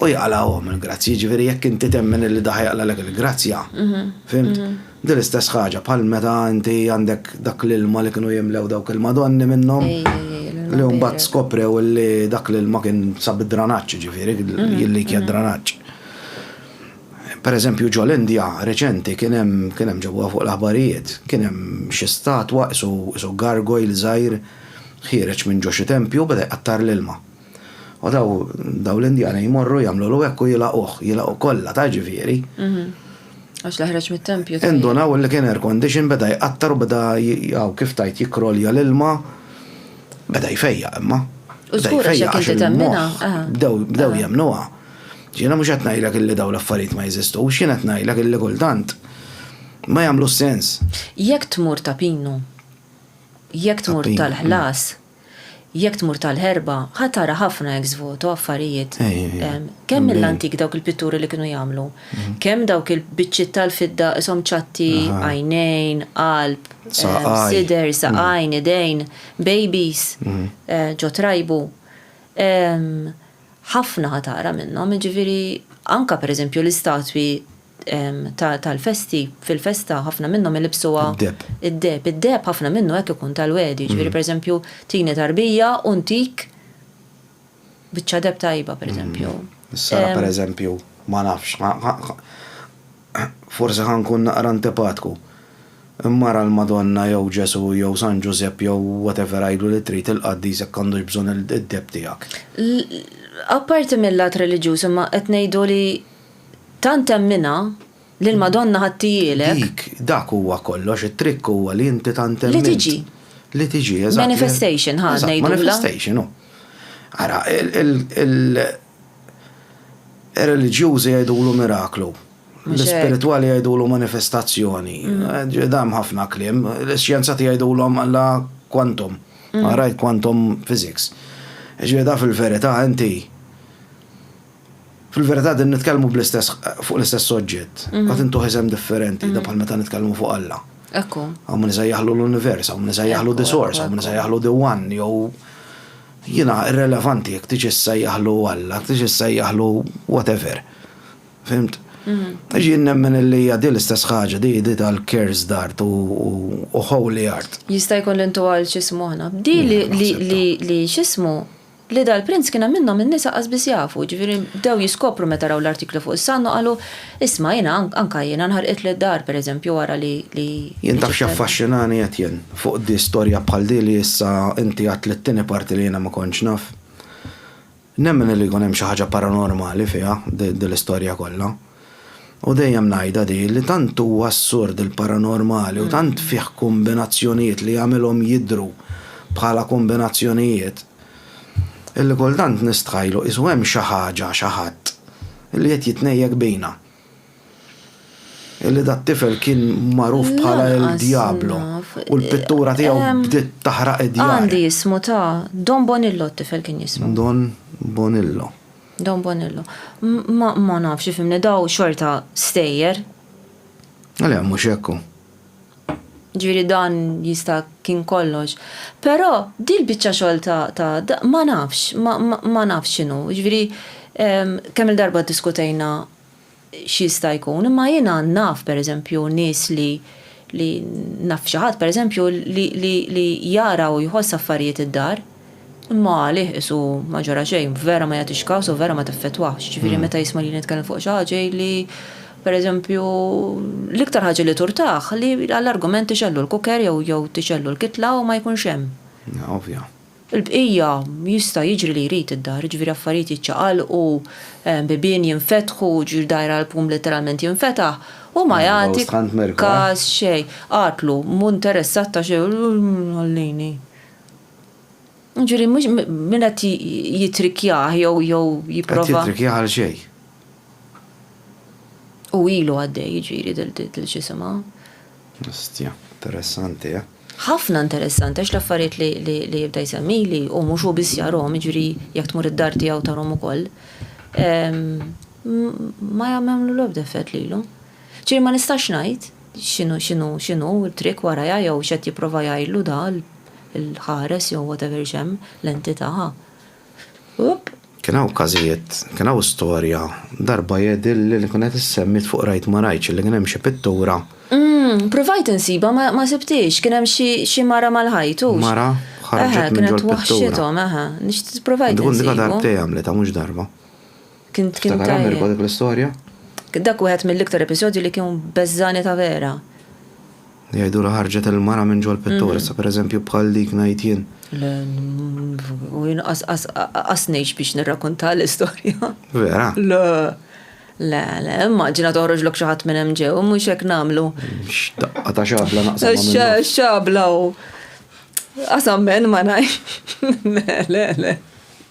U jaqlawhom il-grazzji, ġifieri jekk inti temmen li daħ jaqlalek il-grazzja. Mhm. Fimt? Mhm. Din l-istess ħaġa bħal meta inti għandek dak l-ilma li kienu jimlew dawk il-madonni minnhom. Li mbagħad skoprew li dak l-ilma kien sab id-dranaġġ, ġifieri, mhm. li kien dranaġġ. Pereżempju ġo l-Indja reċenti kien hemm, kien hemm ġewwa fuq l-aħbarijiet, kien hemm xi statwa qisu, qisu gargoyle żgħir ħiereġ minn ġo xi tempju u beda jqattar l-ilma. U daw, daw l-Indjani jmorru jagħmlulu hekk u jilagħquh, jilagħqu kollha, taf ġifieri. Għax la ħreġ mit-tempju tajjeb. Indunaw li kien air condition beda jqattar u beda hawn kif tgħid jikrolja l-ilma, beda jfejjaq imma. U żgur għax jekk inti temminha, aha. Bdew, bdew jemmnuha. Jiena mhux qed ngħidlek illi dawn l-affarijiet ma jeżistux, jien qed ngħidlek illi kultant ma jagħmlux sens. Jekk tmur ta' Pinu, jekk tmur tal-Ħlas, jekk tmur tal-Ħerba, ħa tara ħafna ex voto affarijiet. Kemm mill-antik dawk il-pitturi li kienu jagħmlu, kemm dawk il-biċċiet tal-fidda qishom ċatti, għajnejn, qalb, sider, saqajn, idejn, babies, ġo trajbu. ħafna ħa taqra minnhom, jiġifieri anke pereżempju l-istatwi tal-festi, fil-festa ħafna minnhom ilibsuha. Id-deheb. Id-deheb. Id-deheb ħafna minnu hekk ikun tal-Wegħdi, jiġifieri pereżempju tini tarbija u ntik biċċa deheb tajba pereżempju. Is-sara pereżempju ma nafx, forsi ħa nkun naqra antipatku. Mara l-Madonna jew Ġesù jew San Ġużepp jew whatever għidlu li trid il-qaddis jekk għandux bżonn id-deheb tiegħek. Apparti mil-lat reliġjuż imma qed ngħidu li tant temminha li l-Madonna ħadtihielek. Dik, dak huwa kollox, it-trikk huwa li inti tant temmint. Li tiġi. Li tiġi, eżatt. Manifestation, ħa ngħidulha. Eżatt, manifestation, hu. Ara, Ir-reliġjużi jgħidulu miraklu. L-ispiritwali jgħidulu manifestazzjoni. Mm. Dam ħafna kliem. L-xjenzati jgħidulhom alla quantum. Mm. Għarajt quantum physics. Ġieda fil-verità inti fil-verità din nitkellmu bl-istess fuq l-istess soġġett. Mm. Qed intuħ isem differenti, mm. da bħal meta nitkellmu fuq Alla. Ekku. Għamu nisa jaħlu l-univers, għamu nisa jaħlu the source, għamu nisa jaħlu the one, jew Jiena irrelevanti jekk tix issejjaħlu Alla, jekk tix issejjaħlu whatever. Fhimt? Għax jien nemmen illi hija din l-istess ħaġa, din hi tal-cursed art u holy art. Jista' jkun li ntuha lil x'ismu aħna. Di li li x'ismu, li dal-prinz kien hemm minnhom in-nisa qas biss jafu, jiġifieri bdew jiskopru meta raw l-artiklu fuq is-Sun u qalu, Isma' jiena anka jiena nħarqitli d-dar pereżempju wara li li. Jien taf x'jaffaxxinani Etienne fuq di storja bħal di li issa inti għedt li t-tieni parti li jiena ma kontx naf. Nemmen li jkun hemm xi ħaġa paranormali fiha di l-istorja kollha. U dejjem ngħidha di li tant huwa assurd il-paranormali u tant fih kombinazzjonijiet li jagħmilhom jidhru bħala kombinazzjonijiet illi kultant nistħajlu qisu hemm xi ħaġa, xi ħadd. Illi qed jitnejjek bina. Illi dat-tifel kien magħruf bħala il-Djablu u l-pittura tiegħu bdiet taħraq id-djar. Għandi ismu ta', Don Bonillo t-tifel kien jismu. Don Bonillo. Don Bonillo. Ma nafx ifhimni daw xorta stejjer. Le mhux hekk hu. Ġifieri dan jista' kien kollox. Però dil-biċċa xogħol ta' ta' ma nafx, ma ma ma nafx x'inhu. Ġifieri kemm-il darba ddiskutejna x'jista' jkun, imma jiena naf pereżempju nies li li naf xi ħadd pereżempju li li li jara u jħoss affarijiet id-dar. Imma għalih qisu ma ġara xejn, vera ma jagħtix kas u vera ma teffettwahx. Jiġifieri meta jisma' lili nitkellem fuq xi ħaġa jgħidli, pereżempju, l-iktar ħaġa li turtah li għall-argument tixgħellu l-cooker jew tixgħellu l-kitla u ma jkunx hemm. Ovvja. Il-bqija jista' jiġri li jrid id-dar, jiġifieri affarijiet jiċċaqalqu, bibien jinfetħu, jiġifieri dgħajr għall-pum letteralment jinfetaħ, hu ma jagħti kas xejn. Għatlu, mhu interessat ta' xejn, ħallini. Ġuri, mux minna ti jitrikjaħ jow jow jiprofa. Għat jitrikjaħ għal xej. U ilu għaddej ġiri dil-ġisima. Ostja, interessanti, ja. Eh? ħafna interessanti, għax l-affariet li jibda jsemmi li u mux u bis jarom, ġiri jek tmur id-dar tijaw tarom u koll. Ma jammemlu l-obda effett li l-lum. Ġiri ma nistax najt, X'inhu x'inhu x'inhu t-trick warajha jew x'qed jipprova jgħidlu da l-ħares jew whatever x'hemm, l-entità. Hupp! Kien hawn każijiet, kien hawn storja, darba jgħidilli li kienet issemmit fuq Rajt ma Rajtx illi kien hemm xi pittura. Ppruvajt insibha ma ma sibthiex, kien hemm xi xi mara mal-ħajt hux? Mara ħarġet minn ġol-pittura. Eħe, kienet waħxithom, eħe. Nixtieq ppruvajt insibha. Tkun diġà darbtejn għamlitha mhux darba. Kien kien Ftakar għamel tajjeb. dik l-istorja? Dak wieħed mill-iktar episodji li kien beżżani ta' vera. Jgħidu li ħarġet il-mara minn ġol-pittur, issa pereżempju bħal dik ngħid jien. Le, mm, u jien qas- qas- qas ngħix biex nirrakkonta l-istorja. Vera? Le, le, le, immaġina toħroġlok xi ħadd minn hemm ġew, mhux hekk nagħmlu. X'daqqa ta' xabla naqsam ma' Xa- minnu. Xabla u. Qasam men ma ngħix. Le, le, le.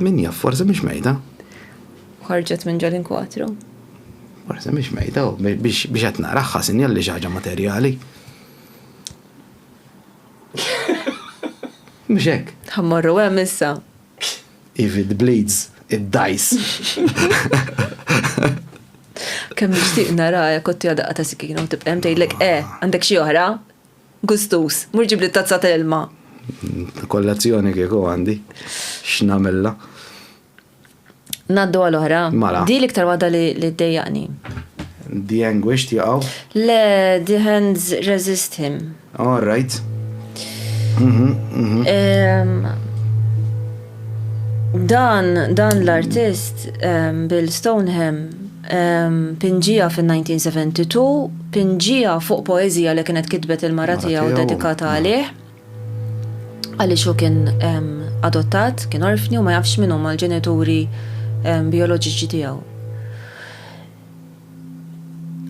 Min jaf, forsi mhix mejda. Ħarġet minn ġol inkwatru. Forsi mhix mejda, biex qed naraħħa sinjal li xi ħaġa materjali. Mhux hekk. Ħammorru hemm issa. If it bleeds, it dies. Kemm nixtieq nara jekk kotti għadaqqa ta' sikina u tibqem tgħidlek eh, għandek xi oħra? Gustuż, mur ġibli tazza ta' ilma. Kollazzjoni kieku għandi, x'namilla. Naddu għal oħra. Mala. Di l-iktar waħda li ddejjaqni. The anguished jaqaw? Le, the hands resist him. All right. Mhm, mhm. Dan, dan l-artist Bill Stoneham Pinġiegħa fin-1972, pinġiegħa fuq poeżija li kienet kitbet il-mara tiegħu dedikata għalih, għaliex hu kien adottat, kien orfni u ma jafx min huma l-ġenituri bijoloġiċi tiegħu.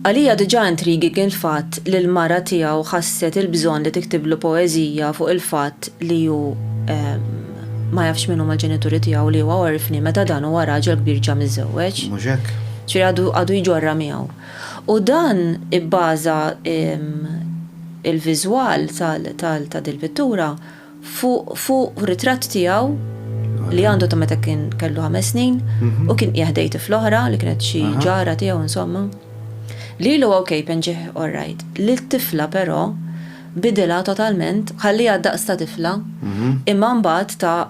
Għalija diġà intriguing il-fatt li l-mara tiegħu ħasset il-bżonn li tiktiblu poeżija fuq il-fatt li hu ma jafx min huma l-ġenituri tiegħu li huwa orfni meta dan huwa raġel kbir ġa miżżewweġ. Mhux hekk? Ġifieri għadu għadu jġorrha miegħu. U dan ibbaża l-viżwal tal tal ta' dil-pittura fuq fuq ritratt tiegħu li għandu ta' meta kien kellu ħames snin u kien qiegħ ħdej tifla oħra li kienet xi ġara tiegħu insomma. Lilu okej penġih all right. Lit-tifla però Bidilha totalment, ħalliha d-daqs ta' tifla, imma mbagħad ta'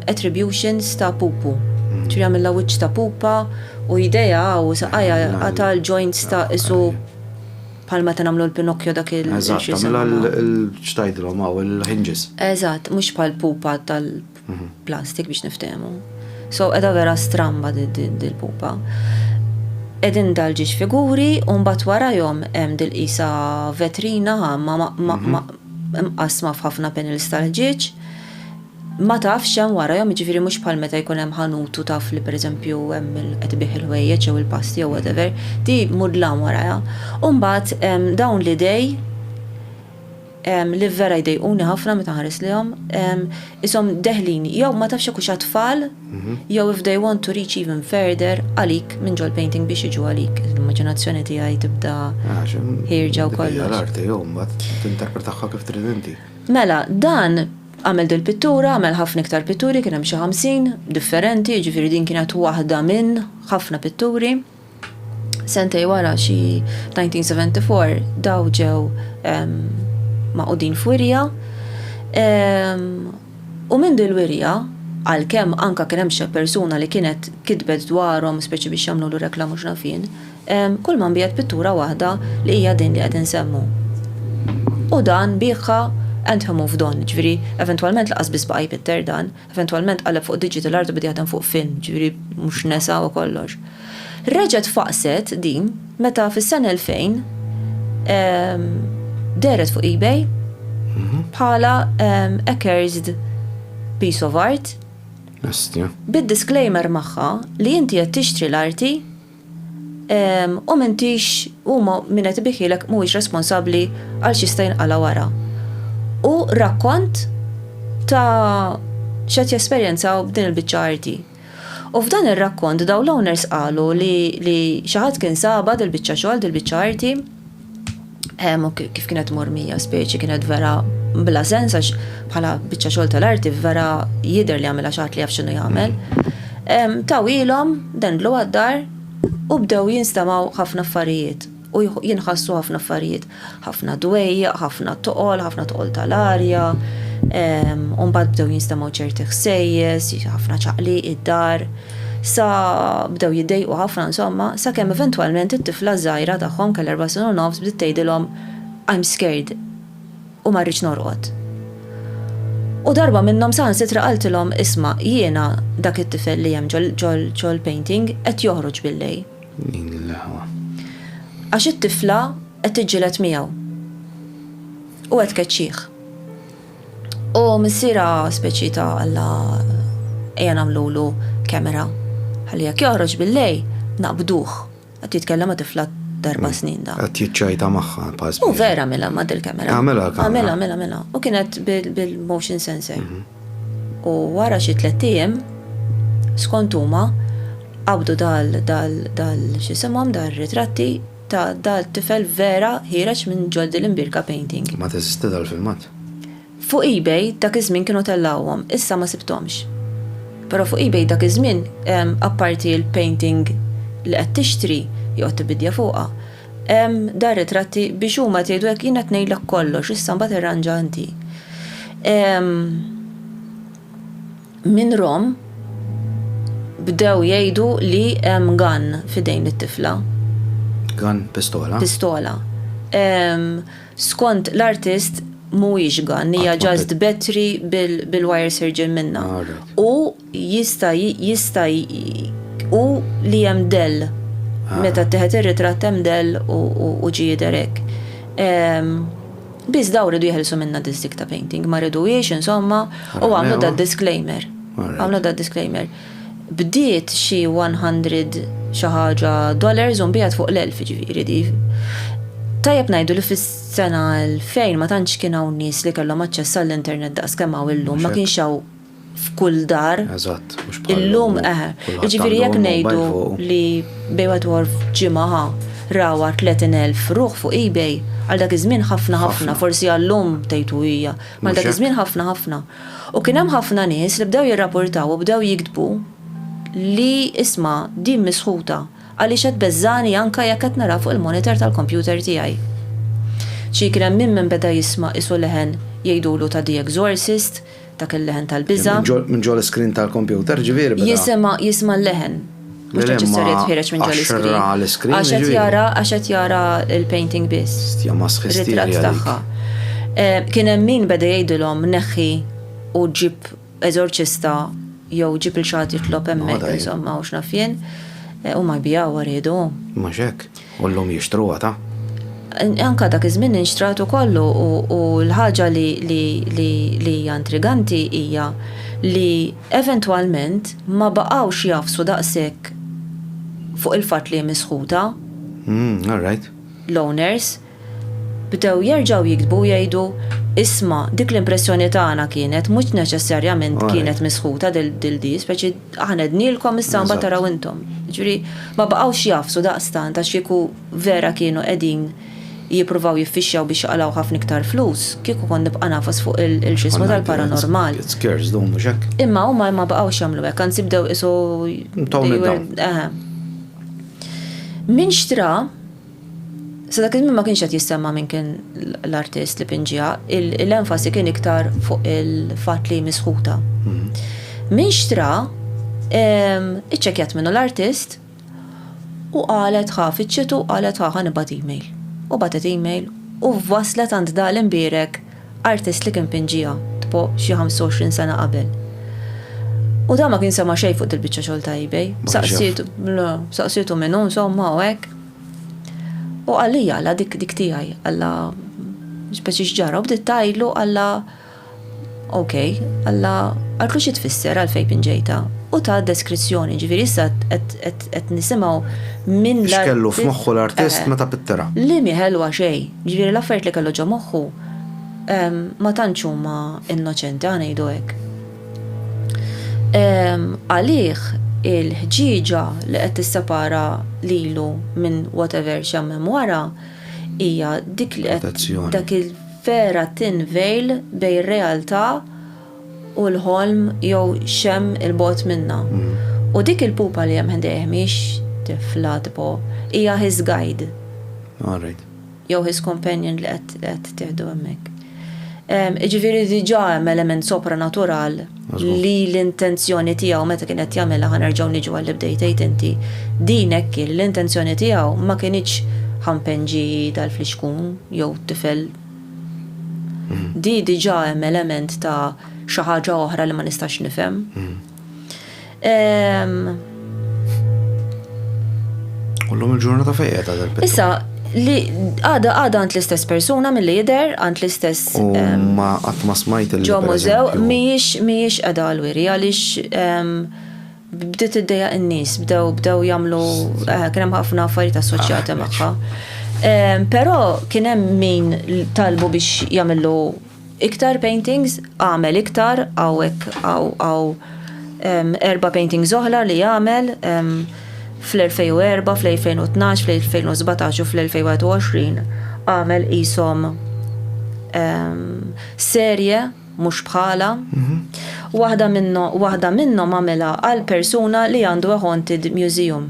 attributions ta' pupu. Ġifieri għamilha wiċċ ta' pupa u jdejha u saqajha qata' l-joints ta' qisu bħal meta nagħmlu l-Pinocchio dak il. Eżatt, tagħmilha l-, x'tgħidilhom hawn, il-hinges. Eżatt, mhux bħall-pupa tal-. Mhm. Plastik biex niftehmu. So edha vera stramba dil-pupa. Edin dal-ġiġ figuri un bat warajom hemm dil-qisa vetrina ma mhm. mqasma f'ħafna panels tal-ġiġ. Ma tafx hemm warajom ġifiri mhux bħal meta jkun hemm ħanutu taf li pereżempju hemm qed ibih il-ħwejjeġ jew il-pasti jew whatever, di mudlam warajha. Umbagħad dawn l-idej li vera jdejquni ħafna meta nħares lejhom, ishom deħlin jew ma tafx jekk hux għat-tfal jew if they want to reach even further għalik minn ġol-painting biex jiġu għalik. L-immaġinazzjoni tiegħi tibda ħierġa u kollox. Hija l-art tiegħu mbagħad tinterpretahha kif trid inti. Mela, dan għamel dil-pittura, għamel ħafna iktar pitturi, kien hemm xi ħamsin differenti, jiġifieri din kienet waħda minn ħafna pitturi. Sentej wara xi 1974 daw ġew maqudin f'wirja u minn din il-wirja għalkemm anke kien hemm xi persuna li kienet kitbet dwarhom speċi biex jagħmlulu rekla mhux naf jien, kulma nbiegħet pittura waħda li hija din li qed insemmu. U dan biegħha and he moved on, jiġifieri eventwalment lanqas biss baqa' jpitter dan. Eventwalment qaleb fuq digital art u beda jaħdem fuq film, ġifieri mhux nesa u kollox. Reġgħet faqqset din meta fis-sena 2000 dehret fuq eBay bħala accursed piece of art bid-disclaimer magħha li inti qed tixtri l-arti u m'intix u min qed ibikielek mhuwiex responsabbli għal x'jista' jinqala' wara. Hu rakkont ta' x'qed jesperjenzaw b'din il-biċċa arti. U f'dan ir-rakkont dawn l-owners qalu li xi ħadd kien sabha dil-biċċa xogħol, dil-biċċa arti, Hemm kif kienet mormija speċi kienet vera bla sens għax bħala biċċa xogħol tal-arti vera jidher li għamilha xaħat li jaf x'inhu jagħmel. Tawilhom dendlu għad-dar u bdew jinstamaw ħafna affarijiet u jinħassu ħafna affarijiet. Ħafna dwejjaq, ħafna toqol, ħafna toqol tal-arja, u mbagħad bdew jinstamaw ċerti ħsejjes, ħafna ċaqliq id-dar. Sa bdew jiddejqu ħafna insomma, sakemm eventwalment it-tifla ż-żgħira tagħhom kellha erba' snin u nofs bdiet tgħidilhom, I'm scared u ma rridx norqod. U darba minnhom saħansitra qaltilhom, isma', jiena dak it-tifel li hemm ġo l-painting qed joħroġ billejl. Din hi l-eħwa. Għax it-tifla qed tiġġieled miegħu u qed tkeċċih. U missira speċi ta' Alla ejja nagħmlulu kemera ħalli jekk joħroġ bil-lejl naqbduh. Qed jitkellem ma' tifla t'erba' snin dan. Qed jiċċajta magħha bħal spiża. U vera għamilha ma' dil-kemera. Għamilha l-kamera. Għamilha, għamilha, għamilha. U kienet bil-motion sensor. U wara xi tlett ijiem, skont huma, qabdu dal, dal, dal, x'isimhom, dal-ritratti, ta' dal tifel vera ħiereġ minn ġol dil imbierka painting. Ma teżisti dal filmat? Fuq ebay dak iż-żmien kienu tellgħuhom, issa ma sibthomx. Però fuq ebay dak iż-żmien, apparti l-painting li qed tixtri, joqgħod tibidja fuqha, hemm dal ritratti biex huma tgħidu hekk jien qed ngħidlek kollox, issa mbagħad irranġa inti. Minn Rome bdew jgħidu li hemm gun f'idejn it-tifla. Gun, pistola? Pistola. Ehm, skont l-artist mhuwiex gun, hija just battery bil-wire sirġin minnha. U jista' jista' u li hemm dell. Meta ttieħed ir-ritratt hemm dell u ġie jidher hekk. Ehm. Biss dawn ridu jeħilsu minnha disk ta' painting, ma riduhiex insomma u għamlu da disclaimer. Għamlu da disclaimer. Bdiet xi 100 xi ħaġa dollars u nbiegħet fuq l-1000 ġifieri di. Tajjeb ngħidu li fis-sena 2000 ma tantx kien hawn nies li kellhom aċċess għall-internet daqs kemm hawn illum, ma kienx hawn f'kull dar. Eżatt, mhux bħal. Illum eħe. Jiġifieri jekk ngħidu li bejn wieħed u ieħor f'ġimgħa ħa rawha 30,000 ruħ fuq eBay, għal dak iż-żmien ħafna ħafna, forsi għallum tgħidu hija, ma dak iż-żmien ħafna ħafna. U kien hemm ħafna nies li bdew jirrapurtaw u bdew jiktbu li isma' din misħuta għaliex qed tbeżżagħni anke jekk qed naraha fuq il-monitor tal-kompjuter tiegħi. Xi kien hemm min minn beda jisma' qisu leħen jgħidulu ta' The Exorcist, Dak il-leħen tal-biża'. Minn ġol-iskrin tal-kompjuter, jiġifieri biża'. Jisimha, jisma' l-leħen. Mhux neċessarjat jitħiereġ minn ġol-iskrin. Għax qed jara l-iskrin. Għax qed jara, għax qed jara l-painting biss. Stja masħ stja dik. Ritratt tagħha. Kien hemm min beda jgħidilhom neħħi u ġib eżorċista jew ġib lil xi ħadd jitlob hemmhekk insomma u x'naf jien. Huma jbigħuha riedu. Mhux hekk. U llum jixtru għata? Anke dak iż-żmien inxtrat ukoll u l-ħaġa li hija intriganti hija li eventwalment ma baqgħux jagħfsu daqshekk fuq il-fatt li hi misħuta. Umm, all right. L-owners. Bdew jerġgħu jiktbu u jgħidu, Isma', dik l-impressjoni tagħna kienet, mhux neċessarjament kienet misħuta dil-di, speċi. Aħna għednielkom issa mbagħad taraw intom. Jiġifieri ma baqgħux jagħfsu daqstant għax kieku vera kienu qegħdin jippruvaw jiffixxjaw biex jaqalgħu ħafna iktar flus, kieku kont nibqa' ngħafas fuq il-x'ismu tal-paranormal. Kont ngħid, Scares dawn mhux hekk? Imma huma ma baqgħux jagħmlu hekk, anzi bdew qisu. Tawni dawn. Eħe. Min xtra? Sa dak iż-żmien ma kienx qed jissemma' min kien l-artist li pinġiha, l-enfasi kien iktar fuq il-fatt li hi misħuta. Min xtra, iċċekkjat minnu l-artist u qalet ħa fittxiet u qalet ħa ħa nibgħat email. U bagħtet email u waslet għand dak l-imbierek artist li kien pinġiha, tipo xi 25 sena qabel. U dan ma kien sema' xejn fuq dil-biċċa xogħol ta' eBay. Saqsietu, le, saqsietu min hu insomma u hekk. U qalli jala dik dik tiegħi, alla speċi x'ġara u bdiet tgħidlu alla ok, alla qaltlu xi tfisser għalfejn pinġejta. U ta deskrizzjoni, ġifieri issa qed nisimgħu minn l X'kellu f'moħħu l-artist meta pittera. Li mhi ħelwa xejn, ġifieri l-affarijiet li kellu ġo moħħu ma tantx huma innoċenti, aħ ngħidu hekk. Għalih il-ħġieġa li qed tissepara lilu minn whatever x'hemm wara hija dik li qed dak il-vera thin veil bejn ir-realtà u l-ħolm jew x'hemm 'il bogħod minnha. U dik il-pupa li hemm ħdejh mhijiex tifla tipo, hija his guide. jew his companion li qed tieħdu hemmhekk. Jiġifieri diġà hemm element sopranatural li l-intenzjoni tiegħu meta kien qed jagħmilha ħa nerġgħu niġu għal li bdejt tgħid inti. Din hekk kien l-intenzjoni tiegħu ma kinitx ħampenġi tal-flixkun jew tifel. Di diġà hemm element ta' xi ħaġa oħra li ma nistax nifhem. Kullum il-ġurnata fejja ta' dal Issa, li għada għada għand l-istess persuna mill lider għand l-istess. Ma għat ma smajt il Ġo mużew, miex miex għada għal-wiri, għalix bdiet id-deja n-nis, bdew bdew jamlu, eh, kienem ħafna affarijiet assoċjati ah, magħha. Pero kienem min talbu biex jamillu Iktar paintings? Agħmel iktar, hawnhekk hawn hawn erba' paintings oħra li għamel fl-2004, fl-2012, fl-2017 u fl-2021. Għamel qishom serje mhux bħalha. Waħda minnhom għamilha għal persuna li għandu a haunted museum.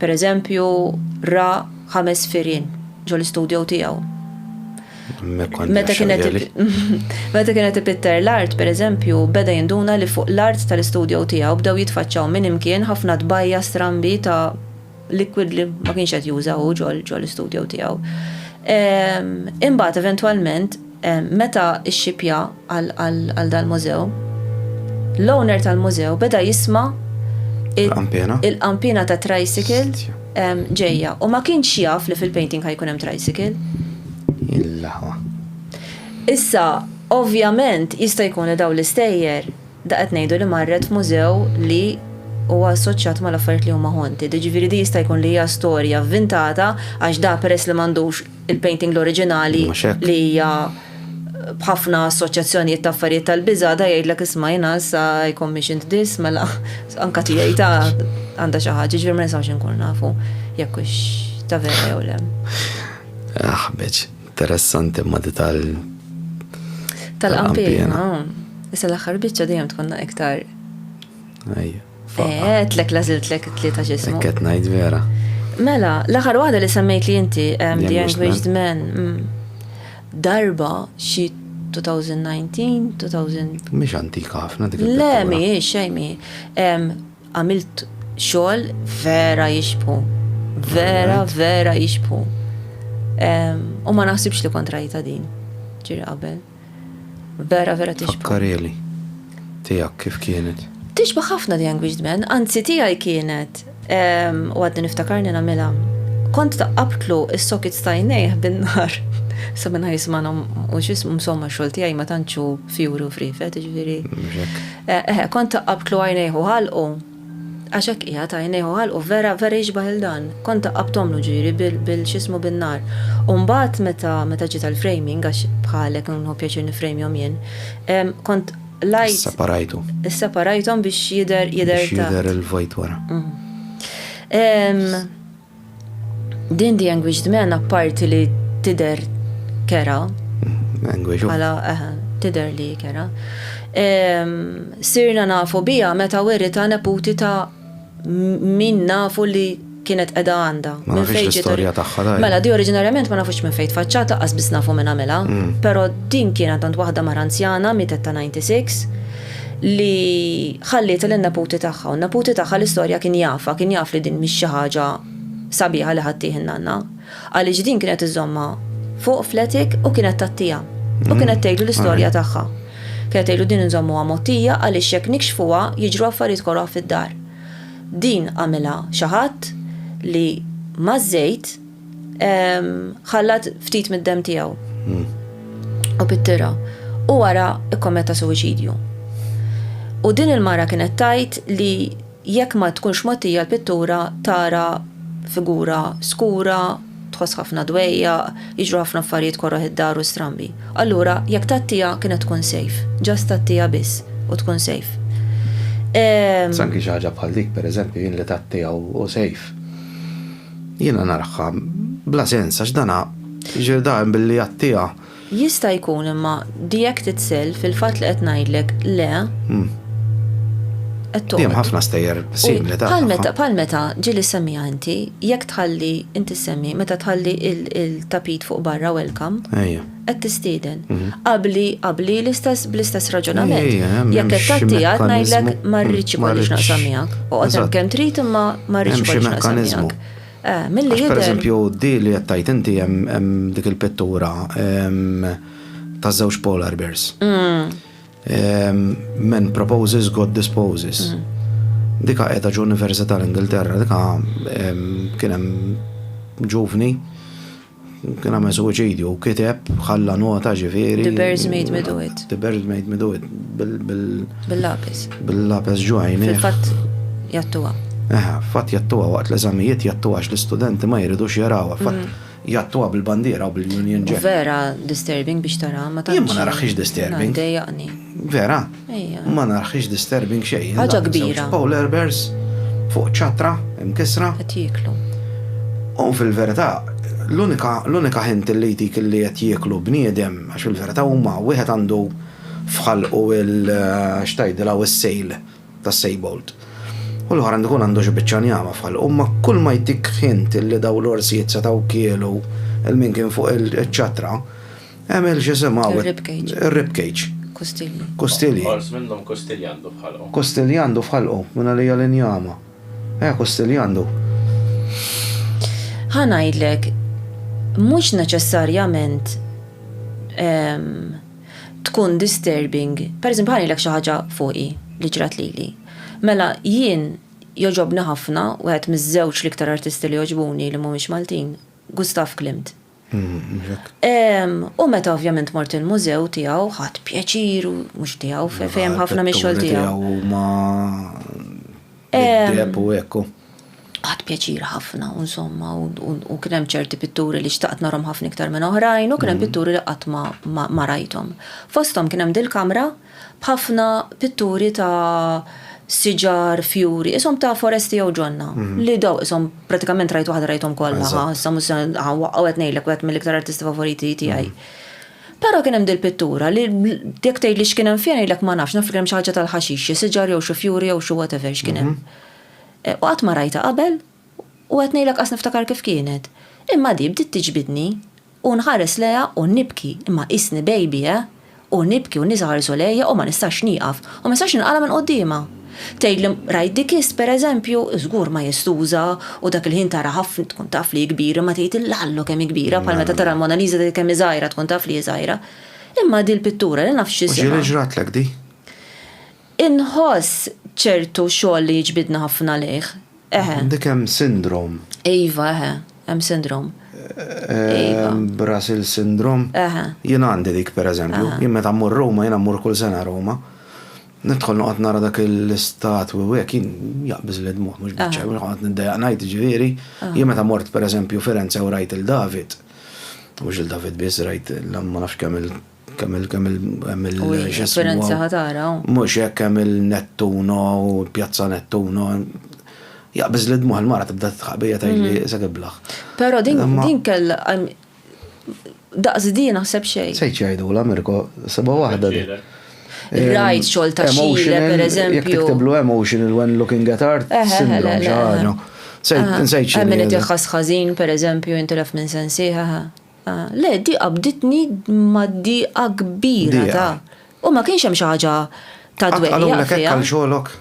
Per eżempju, ra ħames firien ġol istudjo tiegħu. Meta kienet ipitter l-art, per eżempju, beda jinduna li fuq l-art tal-istudjo tiegħu bdew jitfaċċaw minn imkien ħafna tbajja strambi ta' liquid li ma kienx qed juża hu ġol istudjo tiegħu. Ehm, imbagħad eventwalment Meta xxipja għal dal-mużew, l-owner tal-mużew beda jisma' il-qanpiena ta' tricycle ġejja u ma kienx jaf li fil-painting ħa jkun hemm tricycle. Issa, ovvjament, jista' jkun li dawn l-istejjer, da qed ngħidu li marret f'mużew li huwa assoċjat mal-affarijiet li huma haunted, jiġifieri din jista' jkun li hija storja vvintata għax da peress li m'għandux il-painting l-oriġinali li hija b'ħafna assoċjazzjonijiet ta' affarijiet tal-biża da jgħidlek isma' jiena issa I commissioned this mela anka tiegħi ta' għandha xi ħaġa ġifier ma nistgħux inkun nafu jekk hux ta' vera jew le. Aħbeġ, interessanti ma di tal tal-qampina. Issa l-aħħar biċċa dejjem tkun iktar. Ejja. Eh, tlek lażilt lek it-tlieta ġismu. Qed ngħid vera. Mela, l-aħħar waħda li semmejt li inti, The Anguished Men, mm, darba xi 2019, 2000. Mhix antika ħafna dik. Le, mhijiex xejn mi. Għamilt xogħol vera jixbu. Vera, vera jixbu. U ma naħsibx li kontrajta din. Ġiri qabel. Vera vera tixbah. Fakkarieli. Tiegħek kif kienet? Tixbah ħafna The Anguished Man, anzi tiegħi kienet u għadni niftakarni nagħmilha. Kont taqqabtlu is-sokits ta' jnejh bin-nar. Sa minn jismanhom u x'ismu msomma xogħol tiegħi ma tantxu fjuri u frifet, jiġifieri. Eħe, kont taqqabtlu għajnejh u ħalqu. Għax hekk qiegħed, għajnejh u ħalqu vera, vera jixbah lil dan. Kont daqqabthomlu ġieli bil, bil, x'ismu bin-nar. U mbagħad meta, meta ġiet għall-framing, għax bħalek nħu pjaċir nifrejmjhom jien, ehm, kont lajt. Isseparajtu. Isseparajthom biex jidher, jidher ta'. Biex jidher il-vojt wara. Ehm. Din the anguished man apparti li tidher kerha. Anguished. Bħala eħe, tidher li kerha. Sirna nafu biha meta werita neputi ta' min nafu li kienet qeda għandha. Ma nafx l-istorja tagħha daj. Mela di oriġinarjament ma nafux minn fejn tfaċċat laqqas biss nafu min għamilha, però din kienet għand waħda mara anzjana mietet ta' 96 li ħallietha lin-neputi tagħha, u n-neputi tagħha l-istorja kien jafha, kien jaf li din mhix xi ħaġa sabiħa li ħaddih in-nanna, għaliex din kienet iżżommha fuq fl-attic u kienet tgħattiha, u kienet tgħidlu l-istorja tagħha. Kienet tgħidlu din inżommuha mgħottija għaliex jekk nikxfuha jiġru affarijiet koroh fid-dar. Din għamilha xi ħadd li maż-żejt, ħallat ftit mid-dem tiegħu. Hmm. U pittira. U wara ikkometta suwiċidju. U din il-mara kienet tajt li jekk ma tkunx mottija l-pittura tara figura skura, tħoss ħafna dwejja, jiġru ħafna affarijiet korroħ id-dar u strambi. Allura, jekk tattija kienet tkun sejf, ġast tattija biss u tkun sejf. Sanki xi ħaġa bħal dik, pereżempju, jien li tattija u sejf. Jiena narha bla sens għax dan jiġri daqjem billi jgħattiha. Jista' jkun imma the act itself, il-fatt li qed ngħidlek le, qed toqgħod. Hemm ħafna stejjer simili ta' tagħha. Bħal meta ġieli ssemmiha inti, jekk tħalli, inti ssemmi, meta tħalli il-tapit fuq barra welcome. Ejja. qed tistieden. Mhm. Qabli qabli l-istess bl-istess raġunament. Jekk qed tagħti għad ngħidlek ma rridx ikollix naqsam miegħek. Oqgħod hemm kemm trid imma ma rridx ikollix naqsam miegħek. Eh, milli jidher. Per eżempju, di li qed tgħid inti hemm dik il-pittura ta' żewġ polar bears. Mm. Men proposes, God disposes. Mm. Dika qiegħda ġo Università l-Ingilterra, dika kien hemm ġuvni Kien għamel suwiċidju, kiteb, ħalla nota ġifieri. The birds made me do it. The birds made me do it. Bil-lapis. Bil-lapis ġwajn. Fil-fatt jattuwa. Eħa, fatt jattuwa waqt l-eżamijiet jattuwa għax l-istudenti ma jridux jarawa. Fatt mm. jattuwa bil-bandiera u bil-Union Jack. Vera disturbing biex tara ma tara. Jien ma naraħx disturbing. Vera. Ma naraħx disturbing xejn. Ħaġa kbira. Żewġ polar bears fuq ċatra imkisra. Qed jieklu. U fil-verità, l-unika ħint li jtik li qed jieklu bniedem, għax fil-verità huma wieħed għandu f'ħalqu il x'tgħidilha u s-sejl tas-sejbolt. U l-oħra għandu jkun għandu xi biċċa njama f'ħalqu. Imma kull ma jtik ħint li dawn l-orsijiet setgħu kielu lil min kien fuq iċ-ċatra, Emil xisimaw. Rib cage. Rib cage. Kustilji. Kustilji. Ors minnhom kustilji għandu f'ħalqu. Kustilji għandu f'ħalqu, minn għalija l-injama. Eh, kustilji għandu. Ħa ngħidlek, mhux neċessarjament ehm, tkun disturbing. Per eżempju, ħanilek xi ħaġa fuqi li ġrat lili. Mela jien joġobni ħafna wieħed miż-żewġ l-iktar artisti li joġbuni li mhumiex Maltin, Gustav Klimt. U meta ovvjament mort il-mużew tiegħu ħadd pjaċir u mhux tiegħu fejn ħafna mix-xogħol tiegħu. Ma deb u hekk. Ħadd pjaċir ħafna u insomma u kien hemm ċerti pitturi li xtaqt narhom ħafna iktar minn oħrajn u kien hemm pitturi li qatt ma rajthom. Fosthom kien hemm dil-kamra b'ħafna pitturi ta' siġar, fjuri, qishom ta' foresti jew ġonna, li daw qishom pratikament rajt waħda rajthom kollha, ħa issa mhux se nwaqqgħu qed ngħidlek wieħed mill-iktar artisti favoriti tiegħi. Però kien hemm dil-pittura li jekk tgħidli x'kien hemm fiha ngħidlek ma nafx, naf li kien hemm xi ħaġa tal-ħaxix, xi siġar jew xi fjuri jew xi whatever x'kien hemm. U qatt ma rajtha qabel u qed ngħidlek qas niftakar kif kienet. Imma di bdiet tiġbidni. U nħares lejha u nibki, imma qisni baby, eh! U nibki u n-nies iħarsu lejja u ma nistax nieqaf, u ma nistax ninqala' minn quddiemha. Tgħidli, rajt dik is, per eżempju? Żgur majestuża, u dak il-ħin tara ħafna, tkun taf li hi kbira, imma tgħid, illallo kemm hi kbira, bħal meta tara l-Mona Lisa tgħid kemm hi żgħira, tkun taf li hi żgħira. Imma di l-pittura, li nafx x'isimha. U ġieli ġratlek di? Inħoss ċertu xogħol li jiġbidni ħafna lejh. Eħe. Għandek hemm sindrom. Iva, eħe, hemm sindrom. Iva. Brasil sindrom. Eħe. Jien għandi dik pereżempju, jien meta mmur Ruma, jiena mmur kull sena Ruma. Nidħol noqgħod nara dak l-istatwi u hekk jien jaqbiż li dmuħ mhux biċċa, noqgħod niddejjaq ngħid ġifieri. Jien meta mort pereżempju Firenze u rajt il-David, mhux il-David biss rajt ma nafx kemm Kemm il kemm il kemm il Esperenza ħatara. Mhux hekk kemm il-Nettuno u l-Pjazza Nettuno. Jaqbiż li dmuħ il-mara tibda titħaq bija tgħidli mhm. se kiblaħ. Però din din kell daqs din naħseb xejn. Se jgħidu la Mirko, seba' waħda din. Rajt xogħol ta' xile, per eżempju. Jekk tiktiblu emotional when looking at art, eh, eh, eh, syndrome xi ħaġa. Nsejt xi. Min qed jaħħas ħażin, per eżempju, intilef minn sensiħa. Le, d-dieqa bdietni mad-dieqa kbira ta'. U ma kienx hemm xi ħaġa ta' dwejjaq fiha. Qatt qalulek hekk għal xogħlok?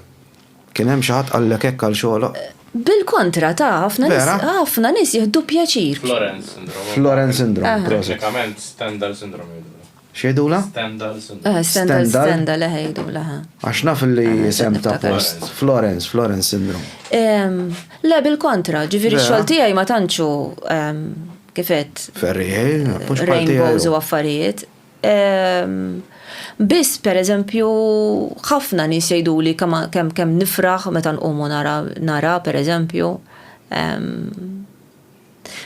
Kien hemm xi ħadd qallek hekk għal xogħlok? Bil-kontra, ta, ħafna nies. Vera? Ħafna nies jieħdu pjaċir. Floren syndrome. Floren syndrome, prosit. Teknikament Stendhal syndrome jgħidulha. X'jgħidulha? Stendhal, Syndrome. Stendhal, Stendhal, eħe jgħidulha, eħe. Għax naf li isem ta' post. Florence, Florence Syndrome. Le, bil-kontra, ġifieri x-xogħol tiegħi ma tantx hu kifet. Ferriħel, mhux bħal tiegħi. Rainbows u affarijiet. Biss, pereżempju, ħafna nies jgħiduli kemm nifraħ meta nqumu nara, pereżempju,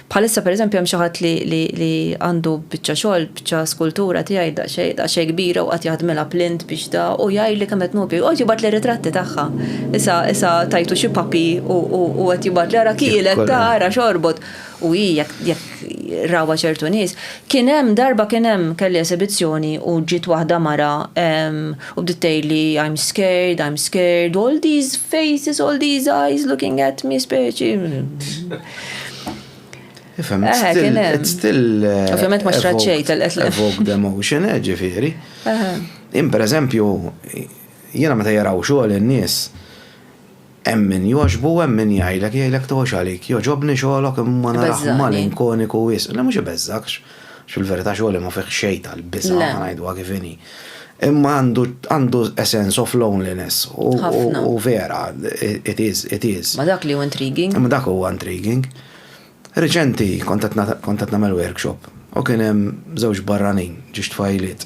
Bħalissa pereżempju hemm xi ħadd li għandu biċċa xogħol, biċċa skultura tiegħi daqsxejn, daqsxejn kbira u qagħad jaħdmilha b'lint biex da u jgħidli kemm qed nopja. Joqgħod jibgħatli ritratti tagħha. Issa, issa tajtu xi puppy u u qed jibgħatli ara kielet, ta ara x'għorbot. U hi jekk jekk rawha ċertu nies. Kien hemm darba kien hemm kelli esibizzjoni u ġiet waħda mara U bdiet tgħidli I'm scared, I'm scared, all these faces, all these eyes looking at me speċi. Ifem, it's eh, still, it's still eh, Ovvjament ma xraċċej tal-qed evoke the emotion, eh, ġifieri. Jien per eżempju, jiena meta jaraw xogħol in-nies, Hemm min jogħġbu u hemm min jgħidlek, jgħidlek togħġ għalik, jogħġobni xogħlok imma narah malinkoniku wisq. Le mhux ibeżżagħkx, għax fil-verità xogħli ma fih xejn tal-biża', ħa ngħiduha kif inhi. Imma għandu a sense of loneliness u vera, it is, it is. Ma dak li hu intriguing. Imma dak huwa intriguing. Reċenti kont qed kont qed nagħmel workshop u kien hemm żewġ barranin, ġiex tfajliet.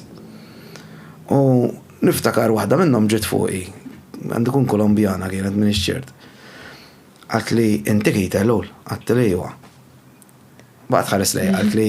U niftakar waħda minnhom ġiet fuqi, għandu jkun Kolombjana kienet m'iniex ċert. Qaltli inti Keith Ellul? Għedtilha iwa. Baqgħet tħares lejja qaltli,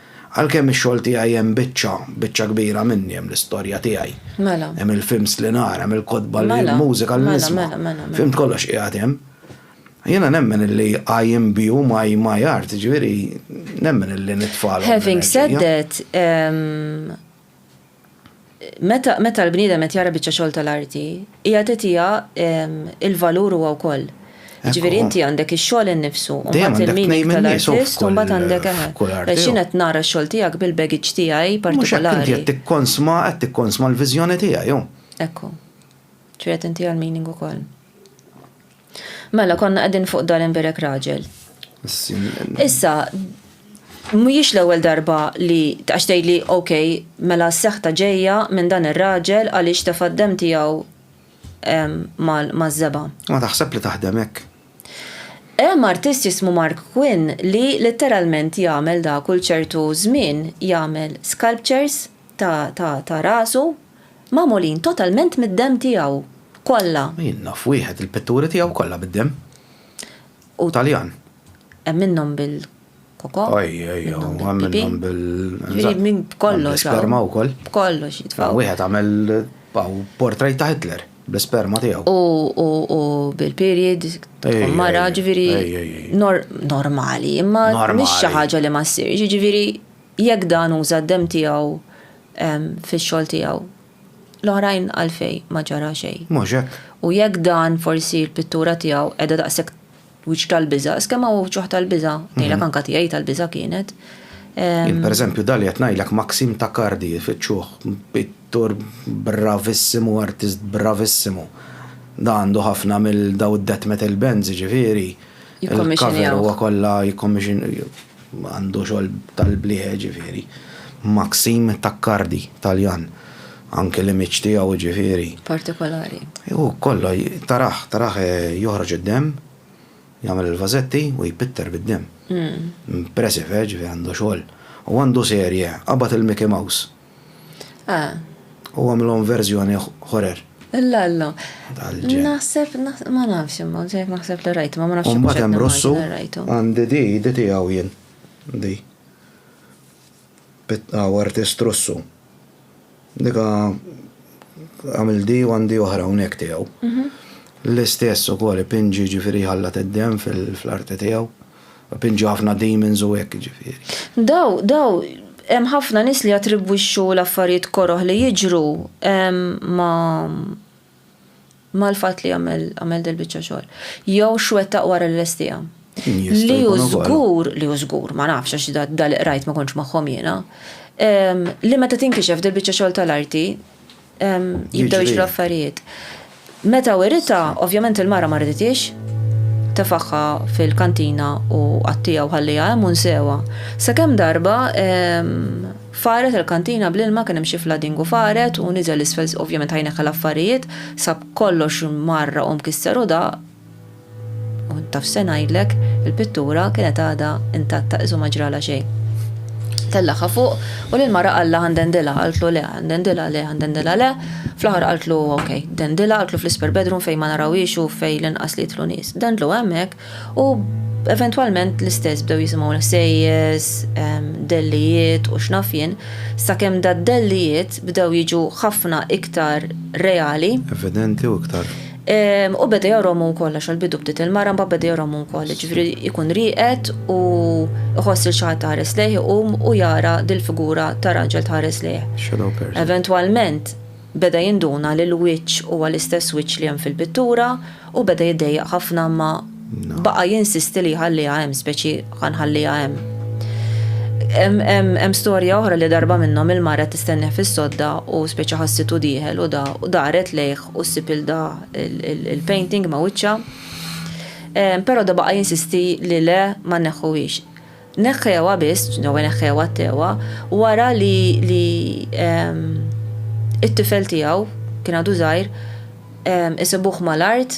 Għalkemm ix-xogħol tiegħi hemm biċċa, biċċa kbira minni hemm l-istorja tiegħi. Mela. Hemm il-films li nara, hemm il-kotba li, il-mużika li nisma'. Mela, mela, mela, mela. Filmt kollox qiegħed hemm. Jiena nemmen illi I imbue my, my art, jiġifieri nemmen illi nitfagħlhom. Having said that, Meta meta l-bniedem qed jara biċċa xogħol tal-arti, qiegħed itiha l-valur huwa wkoll. Jiġifieri inti għandek ix-xogħol innifsu, u mbagħad il-meaning tal-artist, u mbagħad għandek eħe. Għax jien qed nara x-xogħol tiegħek bil-baggage tiegħi partikolari. Mhux hekk, inti qed tikkonsma, qed tikkonsma l-viżjoni tiegħi, hu. Ekku. Ġifieri qed intiha l-meaning ukoll. Mela, konna qegħdin fuq dan imbierek raġel. Issa, mhijiex l-ewwel darba li għax tgħidli ok, mela s-seħta ġejja minn dan ir-raġel għaliex tefa' d-demm tiegħu maż-żebgħa. Ma taħseb li taħdem hekk. Hemm artist jismu Mark Quinn li litteralment jagħmel da kull ċertu żmien jagħmel sculptures ta' rasu, Magħmulin totalment mid-demm tiegħu, kollha. Jien naf wieħed li l-pitturi tiegħu kollha bid-demm. Hu Taljan. Hemm minnhom bil-koko. Oj, oj, oj, hemm minnhom bil. Ġifieri minn b'kollox. Bl-isperma wkoll. B'kollox jitfgħu. Wieħed għamel portrait ta' Hitler bl-isperma tiegħu. U bil-period, mara, ġifieri normali, imma mhix xi ħaġa li ma ssirx, jiġifieri jekk dan uża d-demm tiegħu fix-xogħol tiegħu. L-oħrajn għalfejn ma ġara xejn. Mhux hekk? U jekk dan forsi l-pittura tiegħu qiegħda daqshekk wiċċ tal-biża', is kemm hawn ġuħ tal-biża', ngħidlek anke tiegħi tal-biża' kienet. Jien pereżempju dan li qed ngħidlek Maxim Tacardi ifittxuh, pittur bravissimu, artist bravissimu. Dan għandu ħafna mill dawn id-death metal bands jiġifieri. Jikkommisjonjawh. Il-cover huwa kollha jikkommisjonjawh. Għandu xogħol tal-blieħ ġifieri. Maxim Taccardi, Taljan. Anke l-image tiegħu ġifieri. Partikolari. Hu kollha tarah, tarah joħroġ id-demm, jagħmel il-vażetti u jpitter bid-demm. Impressive, ġifieri għandu xogħol. U għandu serje, Qabad il-Mickey Mouse. Eh. U għamlhom verżjoni ħorer. Illa, illa. Naħseb, ma nafx imma, ġejt naħseb li rajt, ma ma nafx. Umbat hemm rossu, għandi di, di tiegħu jien. Di. Għaw artist rossu. Dika għamil di u għandi oħra unek tiegħu. Mhm. L-istess ukoll pinġi ġifieri ħallat id-dem fl-arti tiegħu. Pinġu ħafna demons u hekk jiġifieri. Daw, daw, hemm ħafna nies li jattribwixxu l-affarijiet koroh li jiġru ma' mal-fatt li għamel, għamel dil-biċċa xogħol. Jew x'wettaq wara li lestihom. Li hu żgur, li hu żgur, ma nafx għax da, da li qrajt ma kontx magħhom jiena, li meta tinkixef dil-biċċa xogħol tal-arti, jibdew jiġru affarijiet. Meta wiritha, ovvjament il-mara ma riditiex, tefaħħa fil-kantina u qattija u ħalliha hemm u nsewha. Sakemm darba faret il-kantina bl-ilma kien hemm xi fladingu faret u niżel isfel ovvjament ħa jneħħi l-affarijiet, sab kollox mgħarraq u mkisser u daqq. U taf se ngħidlek, il-pittura kienet għadha intatta qisu ma ġralha xejn. Tellagħha fuq u lill-mara qallha għandendilha, qaltlu le, għandendilha le, għandendilha le, fl-aħħar qaltlu ok, dendilha, qaltlu fl-isper bedroom fejn ma narawhiex u fejn l-inqas li jidħlu nies. Dendlu hemmhekk u eventwalment l-istess bdew jisimgħu l-ħsejjes, dellijiet u x'naf jien, sakemm dad-dellijiet bdew jiġu ħafna iktar reali. Evidenti u iktar. U beda jgħorhom hu wkoll għax għall-bidu bdiet il-mara mbagħad beda jgħorhom hu wkoll, jiġifieri jkun rieqed u jħoss lil xi ħadd iħares lejh iqum u jara dil-figura ta' raġel tħares lejh. Shadow person. Eventwalment beda jinduna li l-wiċċ huwa l-istess wiċċ li hemm fil-pittura u beda jiddejjaq ħafna imma Baqa' jinsisti li jħalliha hemm, speċi ħa nħalliha hemm. Hemm storja oħra li darba minnhom il-mara qed tistennih fis-sodda u speċi ħassitu dieħel u da u daret lejh u ssib il da il-painting ma' wiċċha. Però da baqa' jinsisti li le ma nneħħuhiex. Neħħewha biss, jew ineħħewha t-tewwa, wara li li t-tifel tiegħu, kien għadu żgħir, isibuh mal-art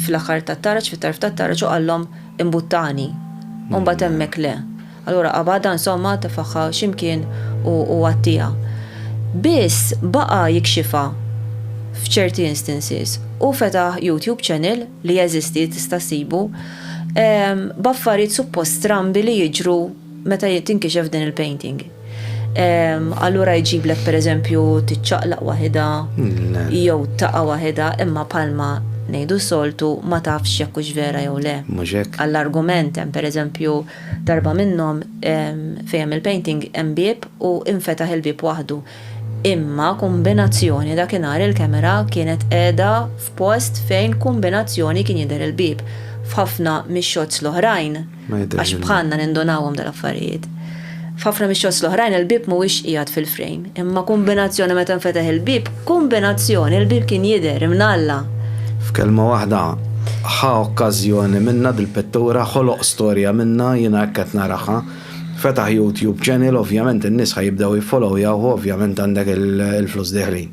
fl-aħħar tat-taraġ, fit-tarf tat-taraġ u qallhom imbuttani. U mbagħad hemmhekk le. Allura qabadha insomma, tefaħha xi mkien u għattiha. Biss baqa' jikxifha f'ċerti instances. Hu fetaħ YouTube channel li jeżisti tista' ssibu, b'affarijiet suppost strambi li jiġru meta tinkixef din il-painting. Allura jġiblek pereżempju tiċċaqlaq waħidha jew taqa' waħidha imma bħalma ngħidu soltu ma tafx jekk hux vera jew le. Għall-argument hemm pereżempju darba minnhom fejn hemm il-painting hemm bieb u infetaħ il-bieb waħdu. Imma kumbinazzjoni dakinhar il-kamera kienet qiegħda f'post fejn kumbinazzjoni kien jidher il-bieb. F'ħafna mix-shots l-oħrajn, għax bħalna nindunawhom dal-affarijiet, f'ħafna mix-shots l-oħrajn il-bieb mhuwiex qiegħed fil-frame. Imma kumbinazzjoni meta nfeteħ il-bieb, kumbinazzjoni il-bieb kien jidher imnalla. F'kelma waħda, ħa okkażjoni minna dil-pittura, ħoloq storja minna, jiena hekk qed naraha. Fetaħ YouTube channel ovvjament in-nies ħa jibdew jiffollowyawh u ovvjament għandek il-flus dieħlin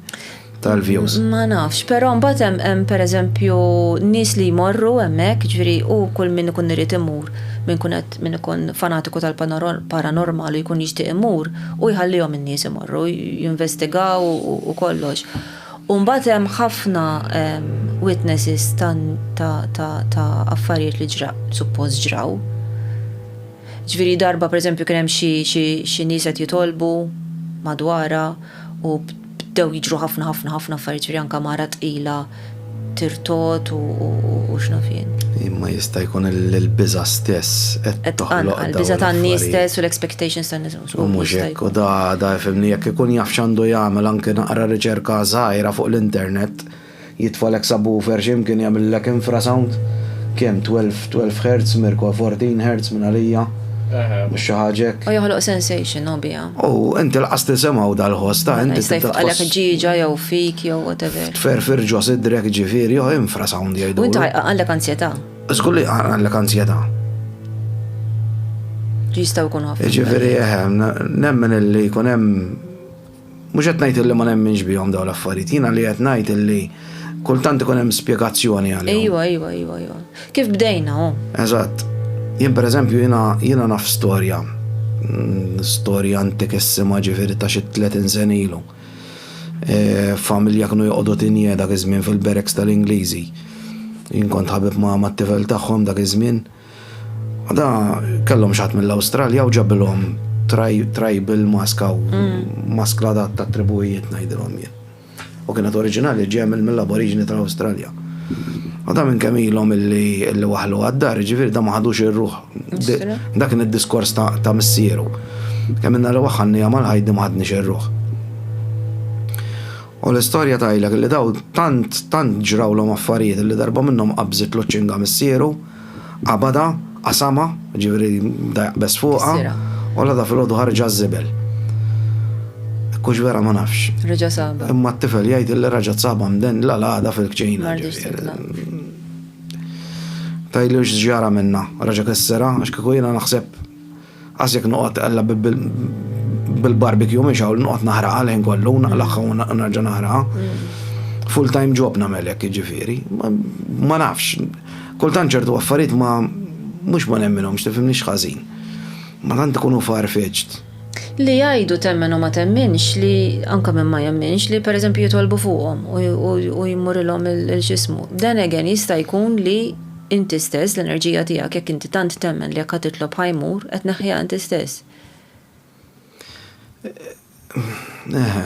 tal-views. Ma nafx, però mbagħad hemm hemm pereżempju nies li jmorru hemmhekk, jiġifieri u kull min ikun irid imur, min ikun qed min ikun fanatiku tal-paranormal u jkun jixtieq imur u jħallihom in-nies imorru jinvestigaw u kollox. U mbagħad hemm ħafna witnesses ta' affarijiet li ġra suppost ġraw. Ġifieri darba pereżempju kien hemm xi xi xi nies qed jitolbu madwarha u bdew jiġru ħafna ħafna ħafna affarijiet ġifieri anke mara tqila tirtgħod u u x'naf jien. Imma jista' jkun li l-biża' stess qed Qed toħloq tqanqal, dawn il-biża' tan-nies l-affarijiet. stess u l-expectations tan-nies. U Żgur li mhux jista' hekk, u jkun. da da ifhimni jekk ikun jaf x'għandu jagħmel anke naqra riċerka żgħira fuq l-internet. Jitfalek subwoofer x'imkien jagħmillek infrasound, kemm 12 12 hertz, Mirko a 14 hertz minn għalija, mhux xi ħaġa hekk. U joħloq sensation hu biha. U inti laqas tisimgħu dal-ħoss ta' inti tibda tħoss. Mela jista' jfqagħlek ġieġa jew fik jew whatever. Tferfir ġo sidrek jiġifieri hu infrasound jgħidulu. U inti jqanqallek anzjetà. Żgur li jqanqallek anzjetà. Jistgħu jkunu ħafna. Jiġifieri eħe, nemmen illi jkun hemm. Mhux qed ngħid illi ma nemminx bihom dawn l-affarijiet, jiena li qed ngħid illi kultant ikun hemm spjegazzjoni għalihom. Ejwa, ejwa, ejwa, ejwa. Kif bdejna, hu. Eżatt. Jien pereżempju jiena jiena naf storja, storja antikissima ġifieri ta' xi tletin sena ilu. Familja kienu joqogħdu tinjie dak iż-żmien fil-barracks tal-Ingliżi. Jien kont ħabib ma' tifel tagħhom dak iż-żmien. Da kellhom xatt mill-Awstralja u ġabilhom tribal maska u mm. maskla dat ta' tribujiet ngħidilhom jien. U kienet oriġinali ġemil mill-aboriġini tal-Awstralja. U da minn kemm ilhom illi waħlu għad-dar, ġifieri da ma ħadux ir-ruħ. Dak kien id-diskors ta' missieru. Kemm inna li waħħanni għamal ħajdi ma ħadniex ir-ruħ. U l-istorja tajlek li daw tant tant ġrawlhom affarijiet li darba minnhom qabżit l-oċċinga missieru Qabadha, qasamha, jiġifieri bda jaqbeż fuqha. U l-għada filgħodu ħareġ għaż-żibel. Kux vera ma nafx. Reġa' saba. Imma t-tifel jgħid li raġa' saba mden la l-għada fil-kċina. Tajli x'ġara minna, raġa' kessera, għax kieku jiena naħseb Qas jekk noqgħod tqella bil-barbecue mhix hawn li noqgħod naħraqha l-ħin kollu u naqlagħha u nerġa' naħraqha. Full time job nagħmel hekk jiġifieri. Ma nafx. Kultant ċertu affarijiet ma mhux ma nemminhomx tifhimni x'ħażin. Ma tant ikunu far-fetched. Li jgħidu temmen u ma temminx li anke min ma jemminx li pereżempju jitolbu fuqhom u jmurilhom il-x'ismu. Then again jista' jkun li Inti stess, l-enerġija tiegħek, jekk inti tant temmen li jekk ħa titlob ħa jmur, qed tneħħiha inti stess. Eħe.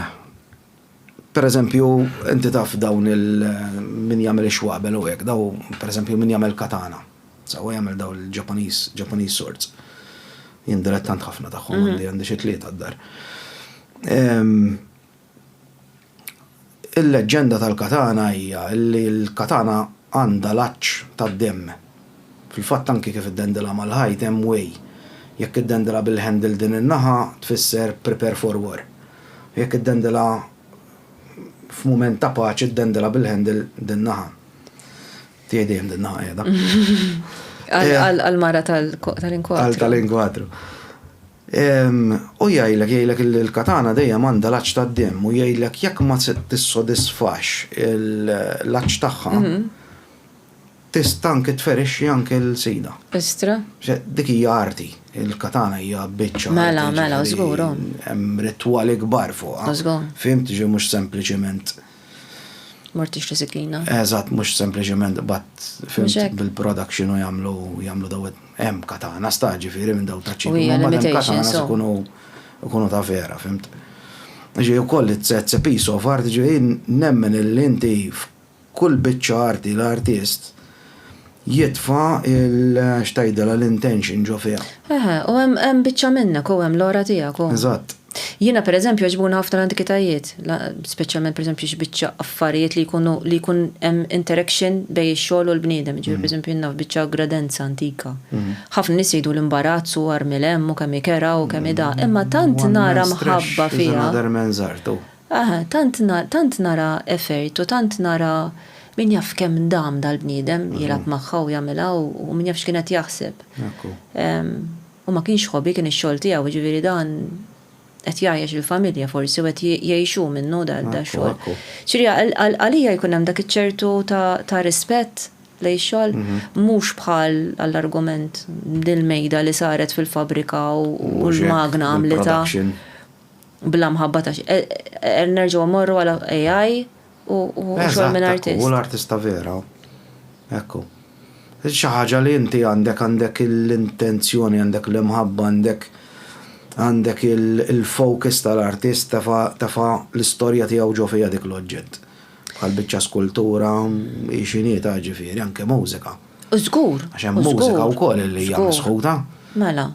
Pereżempju, inti taf dawn il- min jagħmel ix-xwabel u hekk, daw pereżempju min jagħmel katana. Sawa jagħmel daw il-Ġappaniż, Ġappaniż swords. Jien dilettant ħafna tagħhom għandi għandi xi tlieta d-dar. Il-leġġenda tal-katana hija li l-katana għandha l-għatx tad-demm. Fil-fatt anki kif iddendilha mal-ħajt hemm way. Jekk iddendilha bil-handle din in-naħa tfisser prepare for war. U jekk iddendilha f'mument ta' paċi ddendilha bil-handle din-naħa. Tiegħi dejjem din-naħa qiegħda. Għall-mara tal-inkwadru. Għall-tal-inkwadru. Hu jgħidlek, jgħidlek li l-katana dejjem għandha l-għatx tad-demm u jgħidlek jekk ma tissodisfax l-għatx tagħha, tista' anki tferixxi anki l-sida. Istra! Dik hija arti, il-katana hija biċċa. Mela, mela, żgur, hu. Hemm ritwali kbar fuqha. Żgur. Fhimt, ġifieri mhux sempliċiment. Mortix tiżiklina. Eżatt, mhux sempliċement qbadt fimt bil-production u jagħmlu jagħmlu daw hemm katana sta ġifieri minn daw taċ-Ċina. U hija l-imitation so. Ikunu ta' vera, fimt. Ġifieri wkoll it's a piece of art, ġifieri nemmen illi inti f'kull biċċa arti l-artist jitfa' il x'tgħidilha l-intention ġo fiha. Eħe, u hemm hemm biċċa minnek u hemm l-għora tiegħek u. Eżatt. Jiena pereżempju jogħġbuni ħafna l-antikitajiet, speċjalment pereżempju xi biċċa affarijiet li jkunu li jkun hemm interaction bejn ix-xogħol u l-bniedem, jiġifieri pereżempju jien naf biċċa gradenza antika. Ħafna nies jgħidu l-imbarazz u armi l-hemm u kemm hi kerha u kemm hi da, imma tant nara mħabba fiha. Eħe, tant na, tant nara effert u tant nara min jaf kemm dam dal-bniedem jilgħab magħha u jagħmilha u u min jaf x'kien qed jaħseb. Ekku. Ehm, u ma kienx hobby, kien ix-xogħol tiegħu, jiġifieri dan qed jgħajjex il-familja forsi u qed ji, jgħixu minnu da, Ekku, dax-xogħol. ekku. Jiġifieri għal, għal, għalija jkun hemm dak iċ-ċertu ta, ta' rispett lejn ix-xogħol, mhux bħal għall-argument dil-mejda li saret fil-fabbrika u, u Mhux hekk, l-magna għamlitha. il-production. Bla mħabba ta' xejn. Qed nerġgħu mmorru għal AI u xogħol minn artist. Eżatt, ekku, u l-artista vera. Ekku. Xi ħaġa li inti għandek, għandek l-intenzjoni, għandek l-imħabba, għandek għandek il-focus tal-artist tefa' l-istorja tiegħu ġo fiha dik l-oġġett. Bħal biċċa skultura hi x'inhi ta' ġifieri anke mużika. Żgur. Għax hemm mużika wkoll li hija misħuta. Mela.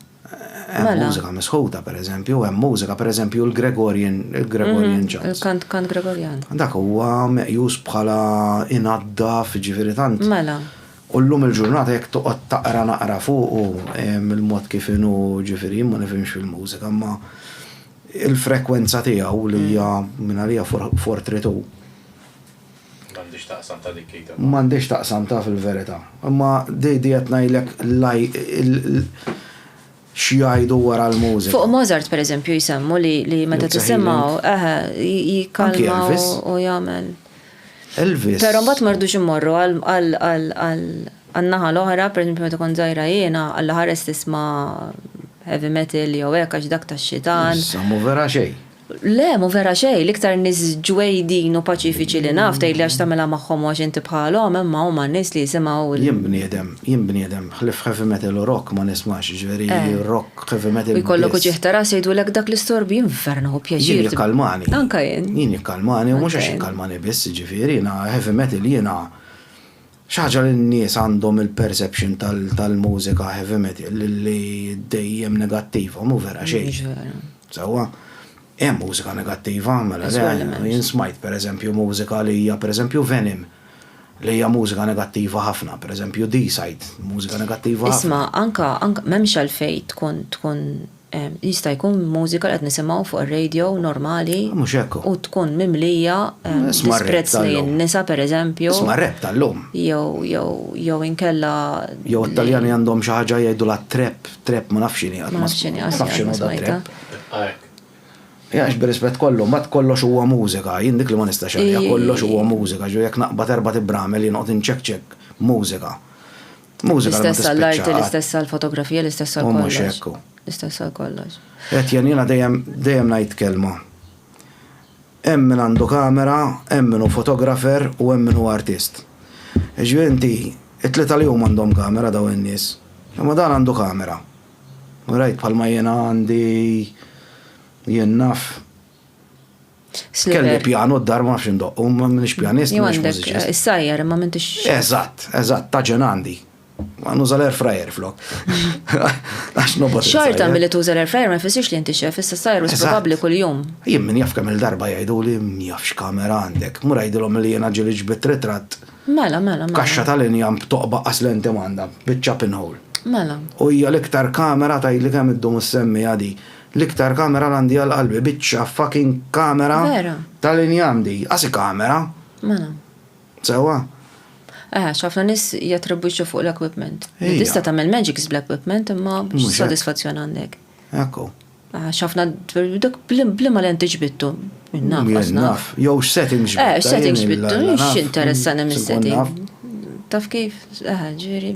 Hemm mużika misħuta, pereżempju, hemm mużika, pereżempju, l-Gregorian, il-Gregorian Chant. Il-kant kant Gregorian. Dak huwa meqjus bħala inaddaf, ġifieri tant. Mela. U llum il-ġurnata jekk toqgħod taqra naqra fuqu il-mod kif inhu, ġifieri jien ma nifhimx fil-mużika, imma il-frekwenza tiegħu li hija mingħalija for three two. M'għandhiex taqsam ta' dik li tibgħat. M'għandhiex taqsam ta' fil-verità. Imma di qed ngħidlek x'jgħidu wara l-mużika. Fuq Mozart pereżempju jsemmu li meta tisimgħu, eħe, jikkalma u jagħmel. Elvis. Però mbagħad mardux immorru għan-naħa l-oħra, pereżempju meta kont żgħira jiena, Alla ħares tisma' heavy metal jew hekk għax dak tax-xitan. Samu vera xejn. Le, mhu vera xejn, l-iktar nies ġwejdin u paċifiċi li naf, tgħidli għax tagħmilha magħhom u għax inti bħalhom, imma huma n-nies li jisimgħu l. Jien bniedem, jien bniedem, ħlief heavy metal u rock ma nismax, jiġifieri rock, heavy metal biss. U jkollok uġigħ ta' ras jgħidulek dak l-istorbju, jien vera nieħu pjaċir. Jien jikkalmani. Anke jien. Jien jikkalmani u mhux għax jikkalmani biss, jiġifieri jiena heavy metal jiena Xi ħaġa li n-nies għandhom il-perception tal-mużika heavy metal li dejjem negattiva, mhu vera xejn. Mhux vera. Sewwa, hemm mużika negattiva, mela le, jien smajt pereżempju mużika li hija pereżempju Venom, li hija mużika negattiva ħafna, pereżempju Deicide, mużika negattiva ħafna. Isma', anke m'hemmx għalfejn tkun tkun Jista' jkun mużika li qed nisimgħu fuq ir-radio normali. Mhux hekk hu. U tkun mimlija disprezz lejn in-nisa pereżempju. Isma' r-rap tal-lum. Jew, jew, jew inkella. Jew it-Taljani għandhom xi ħaġa jgħidulha trap, trap ma nafx x'inhi qatt ma. Ma nafx x'inhi qatt ma smajtha. Għax bir-rispett kollu, mbagħad kollox huwa mużika, jien dik li ma nistax għaliha, kollox huwa mużika, ġifieri jekk naqbad erbgħat ibramel jien noqgħod inċekċek mużika. Mużika li ma L-istess għall-arti, tispiċċa qatt. l-istess għall-fotografija, l-istess għal U mhux kollox. hekk hu. L-istess għal kollox. Qed jen jiena dejjem dejjem ngħid kelma. Hemm min għandu kamera, hemm min hu fotografer u hemm min hu artist. Jiġifieri inti, it-tlieta li huma għandhom kamera dawn in-nies. Imma dan għandu kamera. All right, bħalma jiena għandi jien naf Kelli pjano d-dar ma nafx indoqqu, ma minix pjanist, ma minix mużiċist. Is-sajjar, ma mintix. Eżatt, eżatt, ta' ġenandi. Ma nuża l-air fryer flok. Għax nobot. Xorta mill-li tuża l-air fryer ma jfissirx li inti xef, issa sajjar u probabbli kull-jum. Jien min jaf kemm il-darba jgħidu li jafx kamera għandek, mur jgħidilhom li jiena ġili ġbit ritratt. Mela, mela, mela. Kaxxa tal-injam toqba qas lenti m'għandha, biċċa pinhole. Mela. U hija l-iktar kamera tgħidli kemm iddum issemmija di. L-iktar kamera l-għandi għal qalbi biċċa fucking kamera Vera. ta' l-injam di, qasi kamera. Mela. Sewwa? Aha, x'ħafna nies jattribwixxu fuq l-equipment. Ija. Tista' tagħmel magics bl-equipment imma Mhux hekk. x'sodisfazzjon għandek? Ekku. Aha, x'ħafna dak bl- bliema lenti ġbittu. Jien naf, Jien għax naf. naf. Jew x'settings Eh, x'settings jien ġbittu, illa naf. x'interessani Sinkun mis-setting. naf. Taf kif? Aha, ġifieri.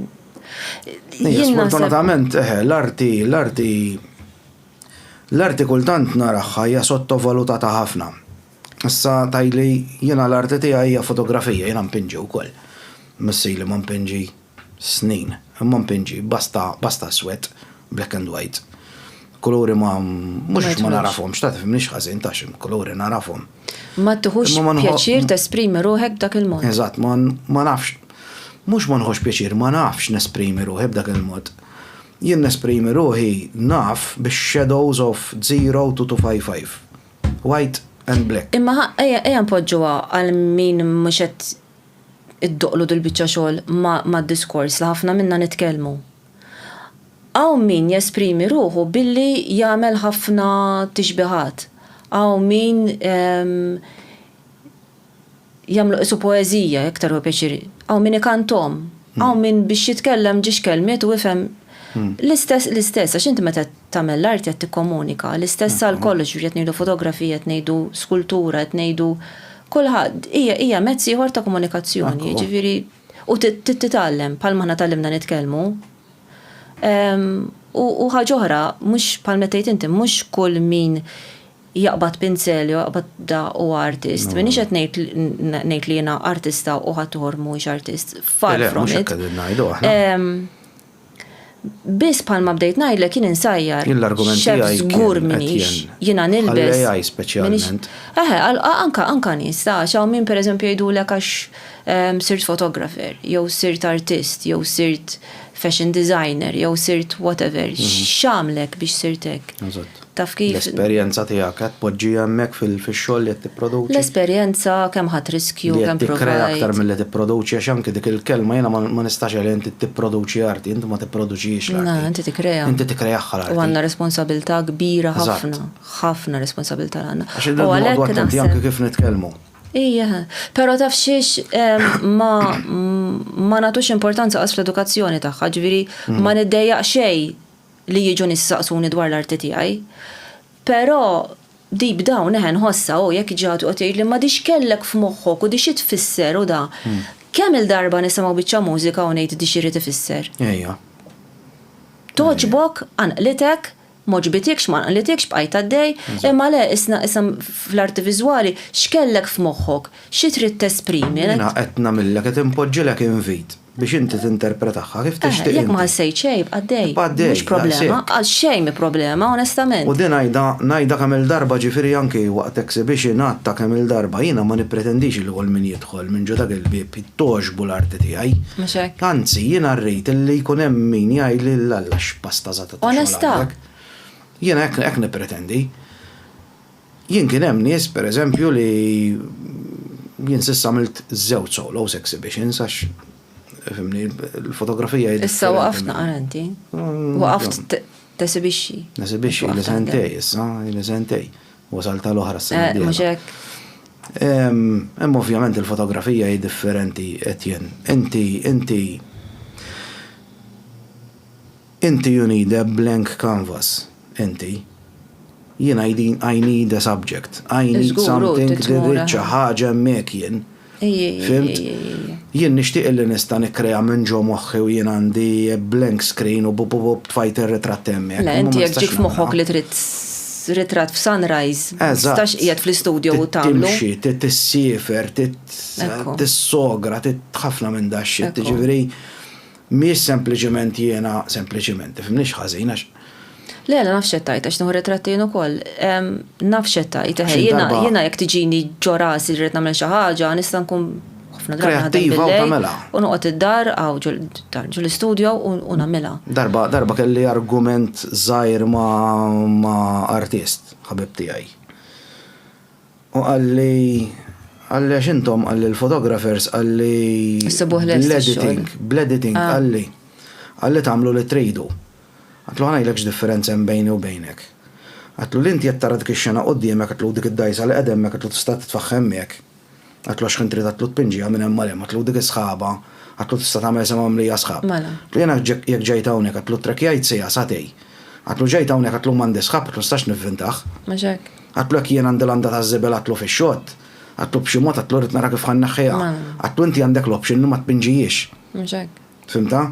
Sfortunatament, eħe, l-arti, l-arti, l-arti kultant naraħħa hija sottovalutata ħafna. Issa tajli jiena l-arti tiegħi hija fotografija, jiena npinġi wkoll. Missili ma npinġi snin, imma npinġi basta, basta swed, black and white. Kuluri ma mhux ma narafhomx, ta' tifhimniex ħażin ta' xi kuluri narafhom. Ma tieħux pjaċir tesprimi ruħek b'dak il-mod. Eżatt, ma nafx. Mhux ma nħoss pjaċir, ma nafx nesprimi ruħi b'dak il-mod. Jien nesprimi ruħi naf bix-shadows of 0 to 255. White and black. Imma ejja npoġġuha għal min mhux qed iddoqlu dil-biċċa xogħol mad-diskors li ħafna minna nitkellmu. Hawn min jesprimi ruħu billi jagħmel ħafna tixbihat, hawn min jagħmlu qisu poeżija, iktar hu pjaċir, hawn min ikanthom, hawn min biex jitkellem ġiex kelmiet u ifhem l-istess, l-istess, għax inti meta qed tagħmel l-arti qed tikkomunika, l-istess għal kollox, jiġifieri qed ngħidu fotografija, qed ngħidu skultura, qed ngħidu kulħadd, hija mezz ieħor ta' komunikazzjoni, jiġifieri. u titgħallem bħalma aħna tgħallimna nitkellmu. U ħaġa oħra, mhux bħal meta tgħid inti, mhux kull min jaqbad pinzel jew jaqbad da u artist. Minix qed ngħid li jiena artista u ħadd uħor mhuwiex artist. Far from it. Biss bħalma bdejt ngħidlek jien insajjar. Jien l-argument tiegħi kien X'hekk żgur m'iniex. Jiena nilbes. Għall-AI speċjalment. Eħe, anke anke nies ta' għax hawn min pereżempju jgħidulek għax sirt photographer, jew sirt artist, jew sirt fashion designer, jew sirt whatever, x'għamlek biex sirt hekk. Eżatt. Taf kif? L-esperjenza tiegħek qed tpoġġiha hemmhekk fix-xogħol li qed tipproduċi? L-esperjenza, kemm ħadt riskju, kemm provajt. Li qed tikkrea aktar milli tipproduċi għax anki dik il-kelma jiena ma nistax għaliha inti tipproduċi arti, inti ma tipproduċihiex l-arti. Le, inti tikkreha. Inti tikkrehaha l-arti. U għandna responsabilità kbira ħafna, ħafna responsabilità li għandna. Għax irridu noqogħdu attenti anke kif nitkellmu. Ija, però taf xiex ma nagħtux importanza qas fl-edukazzjoni tagħha, ġifieri ma niddejjaq xejn li jiġu nies isaqsuni dwar l-arti tiegħi. Però deep down eħe nħossha u jekk ġi ħadd joqgħod jgħidli ma di x'kellek f'moħħok u di xi tfisser u da. Kemm-il darba nisimgħu biċċa mużika u ngħid di x'irid ifisser. Ejja. Togħġbok, qanqlitek, m'għoġbitikx, ma qanqlitikx, bqajt għaddej, imma le isna issa fl-arti viżwali x'kellek f'moħħok, xi trid tesprimi. Jiena qed nagħmillek, qed inpoġġilek invit. Biex inti tinterpretahha kif tixtieq. Jekk ma ħassejt xejn, ibqa' għaddej. Ibqa' għaddej. Mhux problema. Għal xejn mhi problema, onestament. U din ngħidha, ngħidha kemm-il darba ġifieri anki waqt exhibition għadtha kemm-il darba, jiena ma nippretendix li kull min jidħol minn ġo dak il-bieb togħġbu l-arti tiegħi. Mhux hekk. Anzi, jiena rrid li jkun hemm min jgħidli l-alla x'pastazata ta' xogħol għamlek. Onesta! Jiena hekk, hekk nippretendi. Jien kien hemm nies, per eżempju, li jien s'issa għamilt żewġ solos exhibitions għax fimni l-fotografija hi Issa waqaft naqra inti. Mm, waqaft tesibixxi. Nesibixxi li sentej issa, li sentej. Wasal tal-oħra s-sena. Eh, mhux hekk. Hemm ovvjament il-fotografija hi differenti Etienne. Inti inti Inti you need a blank canvas, inti. Jiena I need, I need a subject. I need Żgur, hu something trid li tmur rrid xi aħ. ħaġa hemmhekk jien. Ejj, ejj, ejj, Fhimt? ejj, ejj, ejj, ejj. Jien nixtieq illi nista' nikkrea minn ġo moħħi u jien għandi a blank screen u bu-bu-bu-bu tfajt ir-ritratt hemmhekk. Le, imma inti ma jekk nistax ġiek f'moħħok nagħmilha. li trid s- ritratt f'sunrise, ma Eżatt. tistax qiegħed fl-istudio u Trid tagħmlu. timxi, trid tissiefer, trid Ekku. tissogra, trid ħafna minn dax-shit, Ekku. jiġifieri. Mhijiex sempliċement jiena, sempliċement, tifhimnix ħażin għax. Le, le, naf x'qed tgħid għax nieħu ritratti jien ukoll. Naf x'qed tgħid, eħe, jiena jiena jekk tiġini ġo rasi rrid nagħmel xi ħaġa, nista' nkun ħafna drabi naħdem bil-lejl. U noqgħod id-dar għaw ġol istudio u nagħmilha. Darba, darba kelli argument żgħir ma' artist, ħabib tiegħi. U qalli, qalli għax intom qalli l-photographers qalli. Issibuh lest ix-xogħol. Bl-editing, bl-editing qalli. Qalli tagħmlu li tridu. Għedtlu ħa ngħidlek x'differenza hemm bejni u bejnek. Għedtlu li inti qed tara dik ix-xena quddiemek għedtlu u dik id-dgħajsa li qegħda hemmhekk għedtlu tista' titfaħħem miegħek. Għatlu għax ħin trid għatlu tpinġiha minn hemm għal hemm, għatlu dik is-sħaba, għatlu tista' tagħmel semgħa mimlija sħab. Mela. Għatlu jiena jekk ġejt hawnhekk għatlu ttrakkjajt siegħa, sagħtej. Għatlu ġejt hawnhekk għatlu m'għandi sħab għatlu nistax nivvintah. Mhux hekk. Għatlu jekk jien għandi landa taż-żibel għatlu fix-xott, għatlu b'xi mod għatlu rrid nara kif ħa nneħħiha. Mela. Għatlu inti għandek l-option li ma tpinġihiex. Mhux hekk. Fhimtha?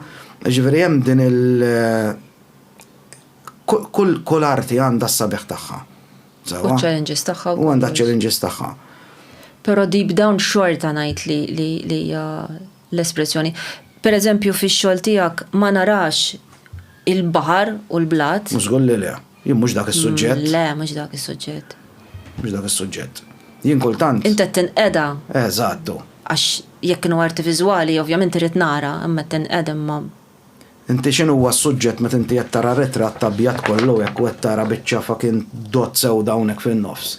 Jiġifieri hemm din il-, kull arti għandha s-sabiħ tagħha. U ċ-challenges tagħha wkoll. U għandha ċ-challenges tagħha. Però deep down xorta ngħid li li li l-espressjoni. Per eżempju fix-xogħol tiegħek ma narax il-baħar u l-blat. Mhux żgur li le. Jien mhux dak is-suġġett. Mm, le, mhux dak is-suġġett. Mhux dak is-suġġett. Jien kultant. Inta tinqeda. Eżattu. Għax jekk kienu arti viżwali, ovvjament irid nara, imma tinqeda imma Inti x'inhuwa s-suġġett meta inti qed tara ritratt abjad kollu hekk u qed tara biċċa fucking dott sewda hawnhekk fin-nofs?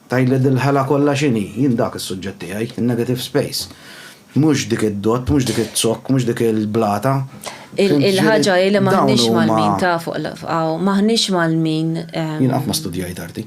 Tgħidli dil-ħela kollha x'inhi? Jien dak is-suġġett tiegħi, in-negative space. Mhux dik id-dott, mhux dik iz-zokk, mhux dik il-blata. Fimt? Ġifieri, dawn huma. Il-ħaġa hi li m'aħniex mgħallmin, taf, hawn, m'aħniex mgħallmin. Jien qatt ma studjajt arti.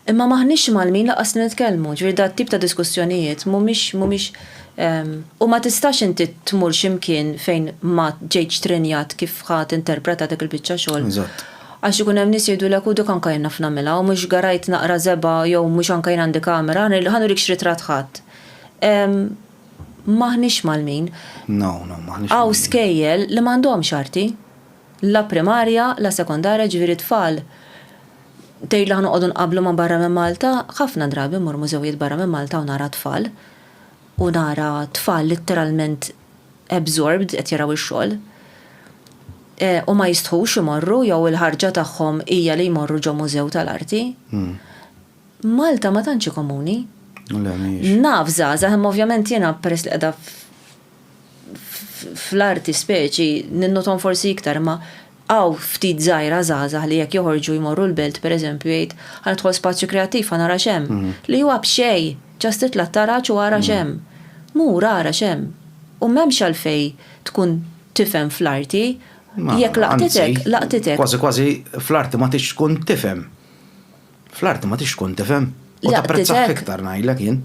Imma m'aħniex imgħallmin lanqas li nitkellmu, ġifieri dat-tip ta' diskussjonijiet mhumiex mhumiex u ma tistax inti tmur xi mkien fejn ma ġejtx trenjat kif ħa tinterpreta dik il-biċċa xogħol. Eżatt. Għax ikun hemm nies jgħidulek u dik anke jien naf nagħmilha u mhux garajt naqra żebgħa jew mhux anke jien għandi kamera, ħa nurikx ritratt ħadd. M'aħniex mgħallmin. No, no, m'aħniex mgħallmin. Hawn skejjel li m'għandhomx arti. la primarja la sekondarja ġifieri t-tfal tgħid li ħa noqogħdu nqabblu ma' barra minn Malta, ħafna drabi mmur mużewijiet barra minn Malta u nara t-tfal u nara t-tfal litteralment absorbed qed jaraw ix-xogħol u ma jistħux imorru jew il-ħarġa tagħhom hija li jmorru ġo mużew tal-arti. Malta ma tantx hi komuni. Naf żgħażagħ imma ovvjament jiena peress li qiegħda fl-arti speċi ninnothom forsi iktar imma hawn ftit żgħira żgħażagħ li jekk joħorġu jmorru l-belt pereżempju jgħid ħa nidħol spazju kreattiv ħa nara x'hemm. Li huwa b'xejn! Just itla' t-taraġ u ara x'hemm. Mur ara x'hemm. U m'hemmx għalfejn tkun tifhem fl-arti. Jekk laqtitek, laqtitek. Kważi kważi fl-arti ma tridx tkun tifhem. Fl-arti ma tix tkun tifhem. U tapprezzah iktar ngħidlek jien.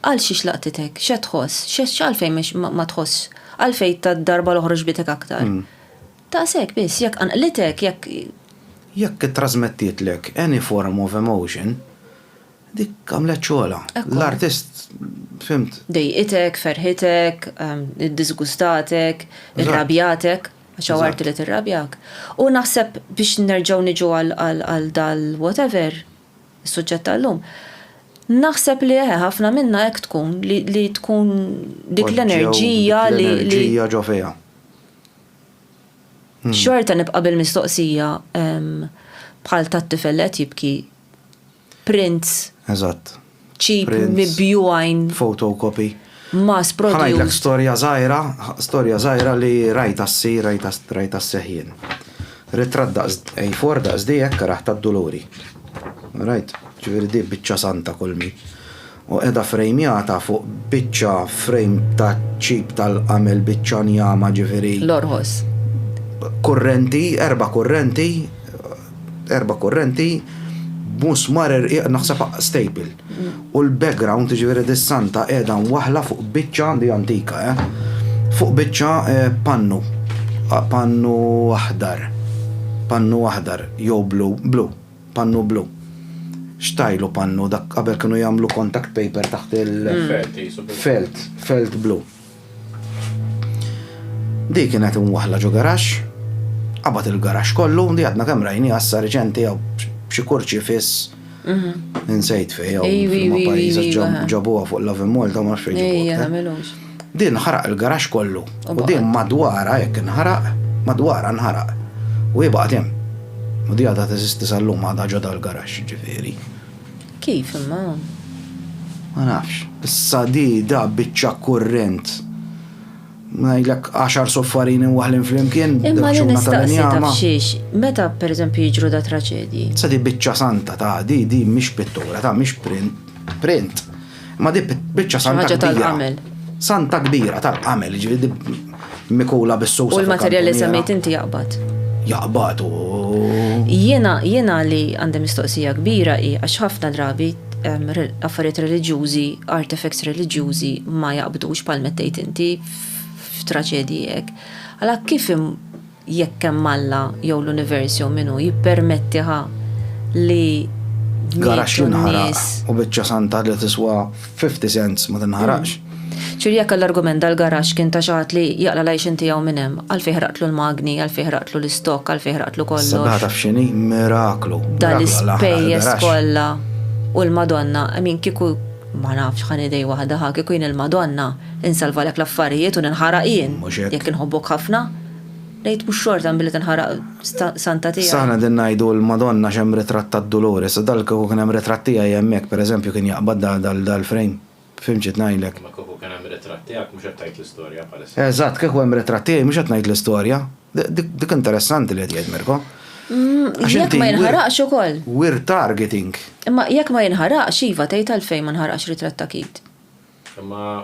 Għal xiex laqtitek? X'qed tħoss? X'għalfejn ma tħoss? Għalfejn tad-darba l-oħra ġbitek aktar? Daqshekk biss, jekk qanqlitek, jekk. Jekk ittrażmettietlek any form of emotion, dik għamlet xogħolha. L-artist, fhimt? Dejqitek, ferħitek, iddiżgustatek, irrabjatek. għax hawn arti li tirrabjak. U naħseb biex nerġgħu niġu għal dal-whatever, is-suġġett tal-lum, naħseb li eħe ħafna minna hekk tkun li tkun dik l-enerġija li. L-enerġija ġo fiha. Xorta nibqa' bil-mistoqsija bħal tat-tifel li qed jibki, prints. Eżatt. Cheap, mibjugħin. Photocopy. Mass produced. Ħa ngħidlek storja żgħira, storja żgħira li rajtha ssir, rajtha sseħħ jien. Ritratt daqs A4 daqs di hekk raħ tad-Duluri. Rajt, ġifieri di biċċa santa kolmi. u qiegħda ffrejmjata fuq biċċa frejm taċ-ċip tal-qamel biċċa njama ġifieri. L-orħos. Kurrenti, erba' kurrenti, erba' kurrenti b'musmar irqiq naħseb staple. U l-background, ġifieri dis-santa qiegħda mwaħħla fuq biċċa, di antika eh, fuq biċċa pannu, pannu aħdar, pannu aħdar jew blu, blu. pannu blu. Xtajlu pannu dak qabel kienu jagħmlu contact paper taħt il- Felt, felt, felt blu. Di kienet imwaħla ġo garax, qabad il-garax kollu, di għadna kemm rajni għassa reċenti jew b'xi kurċi fiss. Mhm. Insejt fej, jew ma pajjiża ġabuha fuq l-Avimol, ta' ma xejn. Din ħaraq il-garaxx kollu u din madwarha jekk inħaraq, madwarha nħaraq u hi baqgħet hemm. U di għadha teżisti sal-lum għadha ġo dal-garaxx jiġifieri. Kif imma? Ma nafx. Issa di da biċċa kurrent. Ngħidlek għaxar soffarini waħlin flimkien. Imma li nistaqsi taf xiex, meta pereżempju jiġru da traċedji. Sa di biċċa santa ta' di di mhix pittura ta' mhix print. Print. Ma di biċċa santa kbira. Santa kbira tal-qamel, ġifieri mikula bis-susa. U l-materjal li semmejt inti jaqbad. Jaqbad u. Jiena jiena li għandi mistoqsija kbira hi għax ħafna drabi affarijiet reliġjużi, artifacts reliġjużi ma jaqbdux bħal mettejt inti f'traċedji hekk. Għala kif jekk hemm Alla jew l-univers jew min hu, jippermettiha li Garaxx jinħaraq u biċċa santa li tiswa 50 cents ma tinħaraqx. Ġifieri jekk għall-argument dal-garaxx kien ta' xi ħadd li jaqla' l-għajxien tiegħu minn hemm, għalfejn ħraqtlu l-magni, għalfejn ħraqtlu l-istokk, għalfejn ħraqtlu kollox. Sabiħa taf x'inhi miraklu. Dal-ispejjeż kollha u l-Madonna, min kieku ma nafx ħan idej waħda ħa kieku jien il-Madonna, insalvalek l-affarijiet u ninħaraq jien jekk inħobbok ħafna. Ngħid mhux xorta minn billi tinħaraq santa tiegħi. S'aħna qegħdin ngħidu l-Madonna għax hemm ritratt tad-Dulores, u dal kieku kien hemm ritratt tiegħi hemmhekk, per eżempju, kien jaqbad dal-frame. Fhimt xi qed ngħidlek? Imma kieku kien hemm ritratt tiegħek mhux qed tgħid l-istorja bħalissa. Eżatt, kieku hemm ritratt tiegħi mhux qed ngħid l-istorja. Dik interessanti li qed jgħid Mirko. Għax inti. Jekk ma jinħaraqx ukoll. We're targeting. Imma jekk ma jinħaraqx, iva, tgħid għalfejn ma nħaraqx ritratt ta' Keith. Imma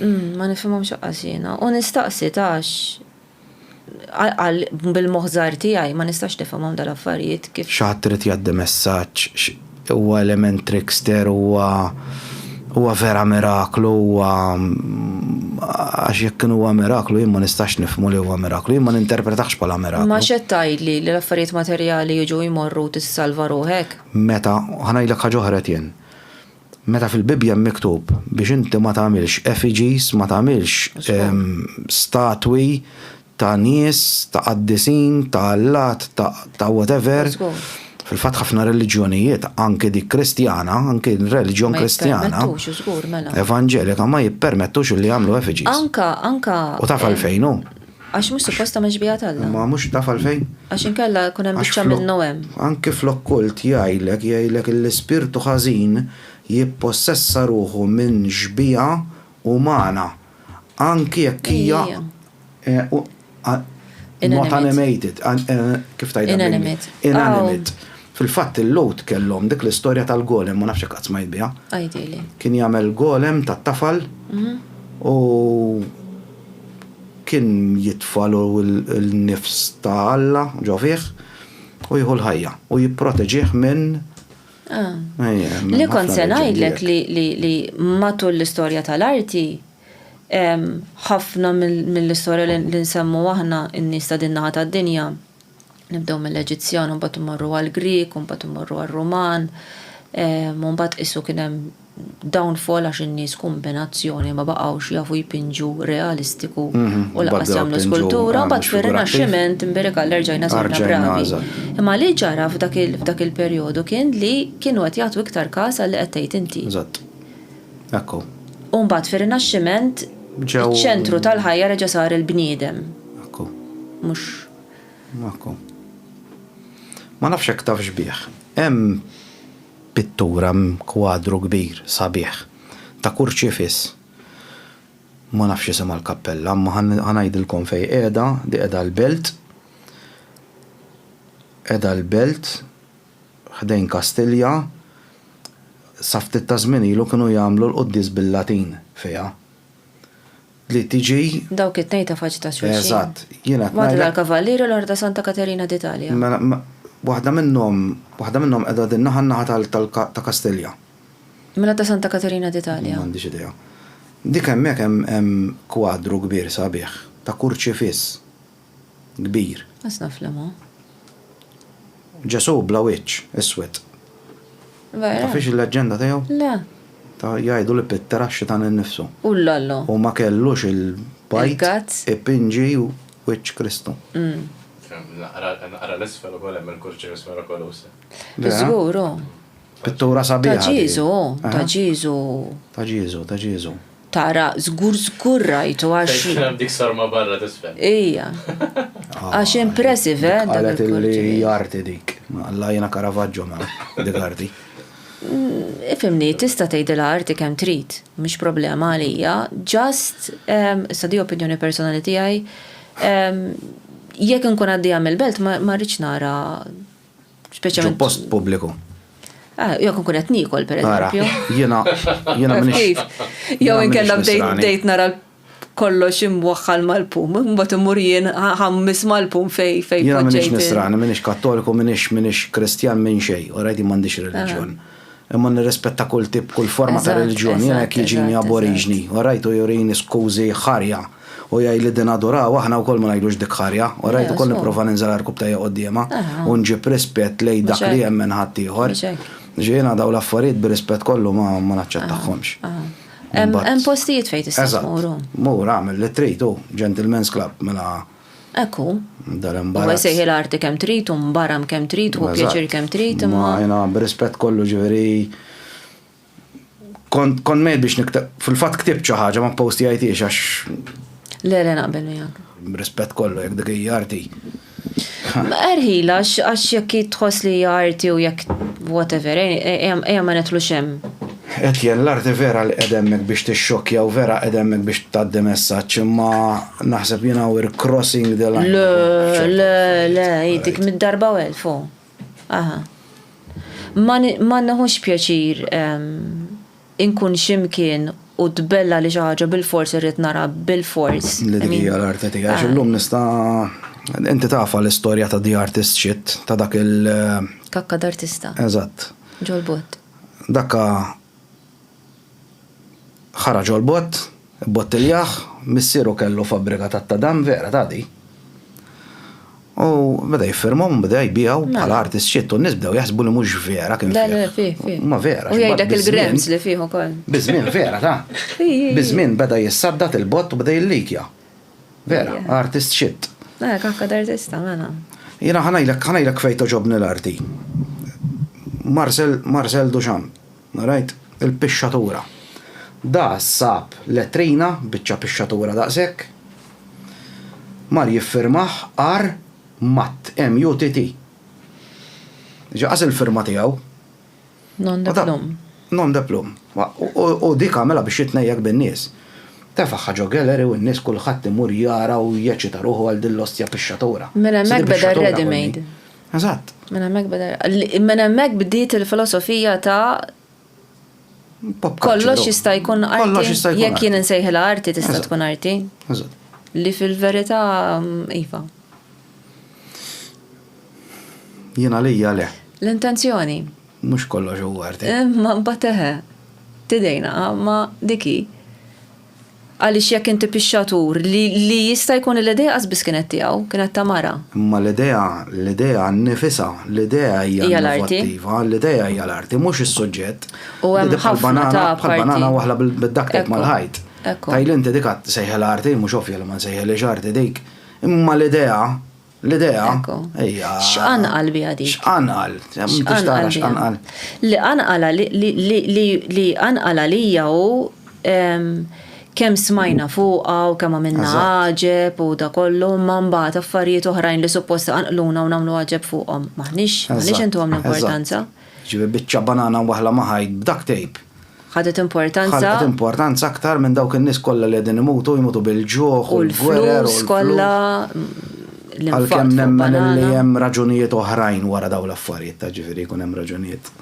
Ma nifhimhomx aqqas jiena. U nistaqsi tax bil-moħħ żgħir tiegħi ma nistax nifhimhom dal-affarijiet kif. Xi ħadd irid jgħaddi messaġġ, huwa element trickster, huwa huwa vera miraklu, huwa għax jekk kien huwa miraklu jien ma nistax nifhmu li huwa miraklu, jien ma ninterpretahx bħala miraklu. Imma x'qed tgħidli, li l-affarijiet materjali jiġu jmorru u tissalva ruħek? Meta, ħa ngħidlek ħaġa oħra Etienne. Meta fil-Bibbja hemm miktub biex inti ma tagħmilx effigies, ma tagħmilx statwi ta' nies, ta' qaddisin, ta' allat, ta' whatever, fil-fatt ħafna reliġjonijiet, anki dik Kristjana, anki r-reliġjon Kristjana, Evanġelika ma jippermettux li jagħmlu effigies. U taf għalfejn hu? Għax mhux suppost tagħmel xbieha t'Alla. Imma mhux taf għalfejn? Għax inkella jkun hemm biċċa minnu hemm. Anki fl-okkult jgħidlek jgħidlek illi spirtu ħażin jippossessa ruħu minn xbieha umana anki jekk hija not animated, kif tgħidha bl-Ingliż? Inanimate. Fil-fatt il-Lhud kellhom dik l-istorja tal-golem, ma nafx jekk qatt smajt biha. Għidili. Kien jagħmel golem tat-tafal u Kien jitfa' l-nifs ta' Alla ġo fih u jieħu l-ħajja, u jipproteġih minn. Li kont se ngħidlek li matul l-istorja tal-arti, ħafna mill-istorja li nsemmu aħna n-nies ta' din naħa tad-dinja, Nibdew mill-Eġizzjan u mbagħad immorru għall-Grieg u mbagħad immorru għar-Ruman. U mbagħad qisu kien hemm downfall għax in-nies kombinazzjoni ma baqgħux jafu jpinġu realistiku u lanqas jagħmlu skultura. Mbagħad fir-Rinaxximent imbierek Alla rġajna sirna bravi. Imma li ġara f'dak il-perjodu kien li kienu qed jagħtu iktar każ għal li qed tgħid inti. Eżatt. Hekk hu. U mbagħad fir-Rinaxximent iċ-ċentru tal-ħajja reġa' sar il-bniedem. Hekk hu. Mhux. Magħkom. Ma nafx jekk tafx bih. Hemm pittura, hemm kwadru kbir sabiħ ta' kurċifiss. Ma nafx isimha l-kappella, imma ħa ngħidilkom fejn qiegħda, di qiegħda l-Belt. Qiegħda l-Belt ħdejn Kastilja. Sa ftit taż-żmien ilu kienu jagħmlu l-quddies bil-Latin fiha. li tiġi. Dawk it-tnejn ta' faċċ ta' xulxin. Eżatt. Jiena qed ngħidlek. L-Għaqda tal-Kavallieri u l-Għaqda Santa Katerina d'Italja. Mela, waħda minnhom, waħda minnhom qiegħda din naħa, n-naħa ta' Kastilja. Mela ta' Santa Katerina d'Italja. M'għandix idea. Dik hemmhekk hemm kwadru kbir sabiħ ta' kurċifiss kbir. Għax naf li ma. Ġesù bla wiċċ, iswed. Vera? Tafhiex il-leġġenda tiegħu? Le. Ta' jgħidu li Pitter għax xitan innifsu. U l-lollo. U ma kellux il-bajt. Il-gazz. Ipinġi wiċċ Kristu. Naqra l-isfel ukoll hemm il-kurċifiss mirakoluż. Żgur, hu. Pittura sabiħa. Ta' Ġieżu, hu. Ta' Ġieżu. Ta' Ġieżu, ta' Ġieżu. Tara, żgur żgur rajtu għax. Fejn kien hemm dik sarma barra t'isfel. Ija. Għax impressive, eh, dak Qalet illi il-korġijiet. hija arti dik. Alla jiena Caravaggio ma dik arti. Ifhimni, tista' tgħidilha arti kemm trid, mhix problema għalija, just, ehm, issa di opinjoni personali tiegħi, ehm, jekk inkun għaddejja mill-belt ma ma rridx nara Speċjalment. Post pubbliku. Ah, jew kun qed nikol pereżempju. Jiena jiena minix. Jew inkella bdejt nara kollox imwaħħal mal-pum, mbagħad imur jien ħammis mal-pum fej fej. Jiena minix nisrani, minix kattoliku, minix minix kristjan minn xej, u rajdi m'għandix ah. reliġjon. Imma nirrispetta kull tip, kull forma ta' reliġjon, jiena jekk jiġini aboriġni, u rajtu jurini skużi ħarja. U jgħid li din aduraw aħna wkoll ma ngħidux dik ħarja, orajt ukoll nipprova ninżel għar-rkub tajja quddiemha u nġib rispett lejn dak li jemmen ħaddieħor. Jiena dawn l-affarijiet bir-rispett kollu ma naċċettahomx. Hemm postijiet fejn tista' tmur. Eżatt. Mur agħmel li trid hu, gentlemen's club mela. Hekk hu. Dar imbarazz. Huwa jsejħilha arti kemm trid u mbaram kemm trid u pjaċir kemm trid imma. Jiena bir-rispett kollu ġifieri. Kont kont mejt biex niktab, fil-fatt ktibt xi ħaġa ma postijajtiex għax. Le le naqbel miegħek. Rispett kollu jekk dik hija arti. Erħila, għax jekk tħoss li hija arti u jekk whatever, eh, eh, ejja ma netlu xem. Et jien l-arti vera li edemmek biex tixxokja u vera edemmek biex taddi messaġġ imma naħseb jien we're crossing the line. Le, le, le, jidik mid-darba u elfu. Aha. Ma, ma neħux pjaċir inkun xi mkien u tbella li xi ħaġa bilfors irrid nara bilfors. Li dik hija l-arti tiegħi. Għax illum nista' inti tafa l-istorja ta' The Artist Shit ta' dak il- Kakka d'artista. Eżatt. Ġol-bott. Dakka Ħaraġ għall-bott, ibbottiljah, missieru kellu fabbrika tat-tadam, vera ta' di? U beda jiffirmhom u beda jbiegħu bħala artist xit u n-nies bdew jaħsbu li mhux vera kien fih. Le, le, fih, fih. Ma vera. U jgħidlek il-grams li fih ukoll. Biż-żmien vera ta'. Biż-żmien beda jissaddat il-bott u beda jillikja. Vera, artist xit. Le, kafka d'artista, mela. Jiena ħa ngħidlek, ħa ngħidlek fejn togħġobni l-arti. Marcel, Marcel Duchamp. Rajt il-pixxatura. Da sab letrina, biċċa pixxatura daqshekk. Mar jiffirmah R. Mutt, M-U-T-T. Ġa qas il-firma tiegħu. Nom de plume. Nom de plume. U dik għamilha biex jitnejjek bin-nies. Tefagħha ġo gallery u n-nies kulħadd imur jara u jeċita ruħu għal din l-ostja pixxatura. Mela hemmhekk beda r-ready made. Eżatt. Minn hemmhekk beda minn hemmhekk bdiet il-filosofija ta' kollox jista' jkun arti jekk jien insejħilha arti tista' tkun arti. Eżatt. Li fil-verità iva. Jien għalija le. L-intenzjoni. Mhux kollox huwa arti. Imma mbagħad eħe. Tidejna, ma dik hi. Għaliex jekk inti pixxatur, li, li jista' jkun li l-idea qas biss kienet tiegħu, kienet ta' mara. Imma l-idea, l-idea nnifisha, l-idea hija innovattiva, l-idea hija l-arti, mhux is-suġġett. U hemm ħafna ta' parti. Bħal banana waħla bid-duct tape mal-ħajt. Tgħidli inti dik għad sejħilha arti, mhux ovvja li ma nsejħilhiex arti dik. Imma l-idea, L-idea. X'qanqal biha dik? X'qanqal? X'qanqal? X'qanqal? Li qanqala li qanqala lija hu kemm smajna fuqha u kemm għamilna għaġeb u da kollu imma mbagħad affarijiet oħrajn li suppost iqanqluna u nagħmlu għaġeb fuqhom. M'aħniex intuhom l-importanza. Ġifieri biċċa banana waħla ma' ħajt b'duct tape. ħadet importanza. Ħadet importanza aktar minn dawk in-nies kollha li qegħdin imutu, jmutu bil-ġuħ u l-gwerer u kollha. Għalkemm nemmen li hemm raġunijiet oħrajn wara dawn l-affarijiet ta' ġifieri jkun hemm raġunijiet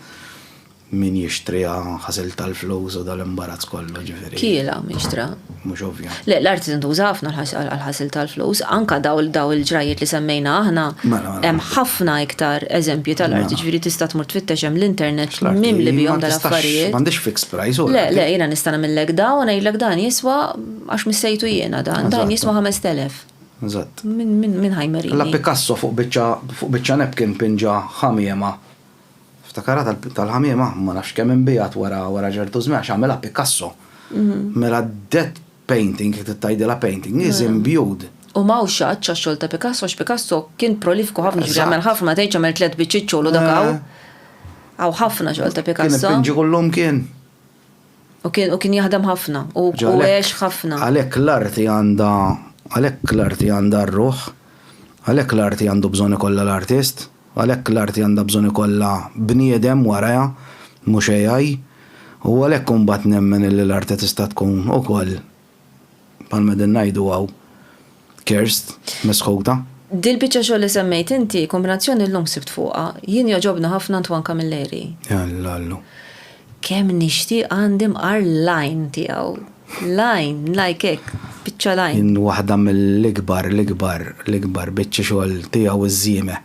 min jixtriha ħasil tal-flus u dal-imbarazz kollu ġifieri. Kiela mixtra. mhux ovvja. Le, l-art tintuża ħafna għal-ħasil tal-flus, anka daw il-ġrajiet li semmejna aħna, mela, mela. hemm ħafna iktar eżempji tal-art, mela. ġifieri tista' tmur tfittex hemm l-internet mim li bihom dal-affarijiet. M'għandix fix price u. Le, le, jiena nista' nagħmillek dawn, ngħidlek dan jiswa għax missejtu jiena dan, dan jiswa 5000. Eżatt. Min ħajmerini. La Picasso fuq biċċa napkin pinġa ħamiema Ftakarha tal-ħamiema, ma nafx kemm inbiegħet wara ċertu żmien għax għamilha Picasso. Mela that painting, jekk tgħidilha painting, is imbued. U ma hawnx xatt għax-xogħol ta' Picasso għax Picasso kien prolifiku ħafna, jiġifieri għamel ħafna, tgħidx għamel tliet biċċiet xogħol u dak hawn. Hawn ħafna xogħol ta' Picasso. Kien ipinġi kull imkien. U kien u kien jaħdem ħafna u Ġa, għalhekk- għex ħafna. Għalhekk l-arti għandha għalhekk l-arti għandha r-ruħ, għalhekk l-arti għandu bżonn ikollha l-artist, għalhekk l-arti għandha bżonn ikollha bniedem warajha, mhux AI. U għalhekk imbagħad nemmen illi l-arti tista' tkun ukoll bħalma din ngħidu hawn, cursed, mesħuta. Dil-biċċa xogħol li semmejt inti, kombinazzjoni llum sibt fuqha, jien jogħġobni ħafna Antoine Camilleri. Alla allu. Kemm nixtieq għandi mqar l-għajn tiegħu. L-għajn, like hekk, biċċa l-għajn. Waħda mill-ikbar, l-ikbar, l-ikbar biċċi xogħol tiegħu iż-żiemel.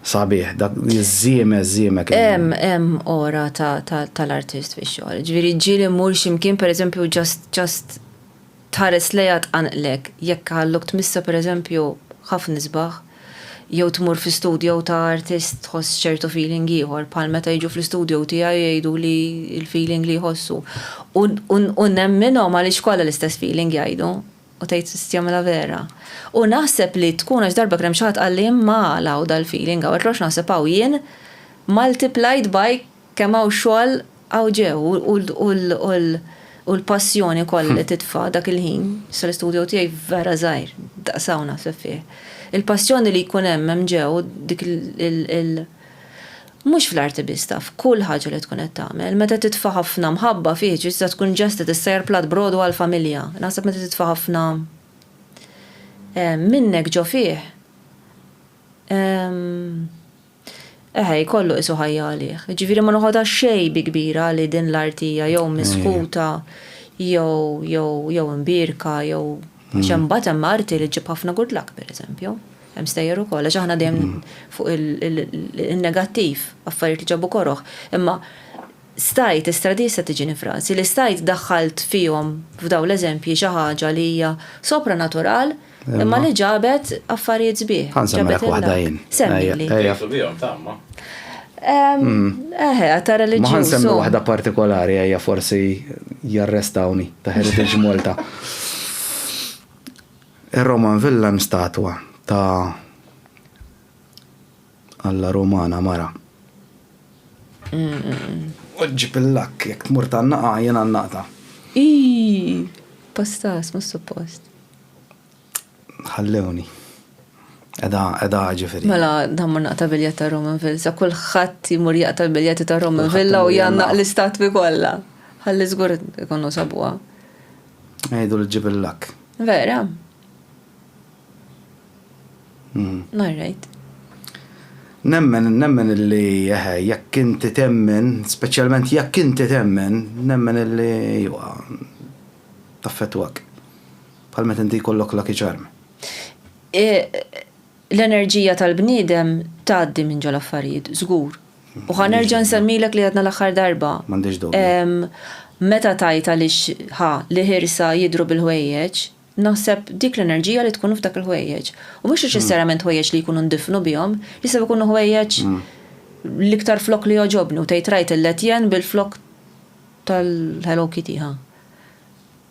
Sabiħ, dak iż-żieme, żieme kemm. Hemm, hemm ora tal-artist fix-xogħol. Ġifieri ġieli mmur xi mkien pereżempju ġast, ġast tħares lejha tqanqlek. Jekk ħalluk tmissha pereżempju ħafna isbaħ, jew tmur fi studio ta' artist tħoss ċertu feeling ieħor, bħal meta jiġu fl-istudio tiegħi jgħiduli l-feeling li jħossu. U nemminhom għaliex kollha l-istess feeling jgħidu. U tgħid tista' jagħmilha vera. U naħseb li tkun għax darba kien hemm xi ħadd qalli imma għala hawn dal-feeling hawn, għidlu għax naħseb hawn jien multiplied by kemm hawn xogħol hawn ġew u l-passjoni kollha li titfa' dak il-ħin, issa l-istudio tiegħi vera żgħir, daqs hawn naħseb fih. Il-passjoni li jkun hemm hemm ġew dik il-, Mhux fl-arti biss taf, f'kull ħaġa li tkun qed tagħmel. Meta titfa' ħafna mħabba fih tista' tkun ġest qed issajjar platt b'rogħdu għall-familja. Naħseb meta titfa' ħafna minnek ġo fih, eħe jkollu qisu ħajja għalih. Jiġifieri ma noħodha xejn bi kbira li din l-arti hija jew misħuta jew jew jew imbierka jew għax imbagħad hemm arti li ġġib ħafna good luck pereżempju. Hemm stejjer ukoll għax aħna dejjem fuq il-negattiv, affarijiet li ġabu koroh. Imma stajt l-istradija se tiġini frażi li stajt daħħalt fihom f'dawn l-eżempji xi ħaġa li hija sopra natural imma li ġabet affarijiet sbieħ. Ġabet waħda jien. Semmili. Ejjesu bihom tamma. Eħe, ta' reliġjuż. Ma semmi waħda partikolari ejja forsi jarrestawni ta' Heritage Malta. Ir-Roman Villa hemm statwa ta' Alla Rumana mara. U ġġib il-lakk, jekk tmur tgħannaqha jien għannaqtha. Iiii! Pastas, mhux suppost. Ħallewni. Qegħda, qegħda ġifieri. Mela, dan mur naqta' biljett ta' Roman Villa. Sa kulħadd jmur jaqta' l-biljetti ta' Roman Villa u jgħannaq l-istatwi kollha. Ħalli żgur ikunu sabuha. Għidu li ġib il-lak. Vera? Mm. All right. Nemmen, nemmen illi eħe, jekk inti temmen, speċjalment jekk inti temmen, nemmen illi jwa taffetwak. Bħal meta inti jkollok lucky charm. E, L-enerġija tal-bniedem tgħaddi minn ġo l-affarijiet, żgur. U ħa nerġa' nsemmilek li għedna l-aħħar darba. M'għandhiex dubju. Meta tgħid għaliex ħa l-ħirsa jidhru bil-ħwejjeġ, naħseb dik l-enerġija li tkun f'dak il-ħwejjeġ. U mhux neċessarjament ħwejjeġ li jkunu ndifnu bihom, jistgħu jkunu ħwejjeġ l-iktar flokk li jogħġobni u tgħid rajt il-Letjen bil-flokk tal-Hello Kitty, ħa.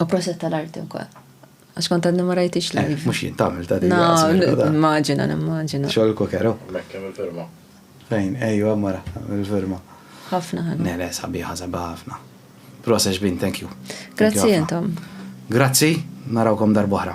U proset tal-arti wkoll. Għax kont għadni ma rajtix eh, live. Mux jien tagħmel ta' din. Immaġina, nimmaġina. Xogħol kokero. Mekkem il-firma. Fejn, ejju mara, il-firma. Ħafna ħana. Nele, sabiħa, sabiħa ħafna. Prosex bin, thank you. Grazzi jentom. Grazzi, narawkom darbohra.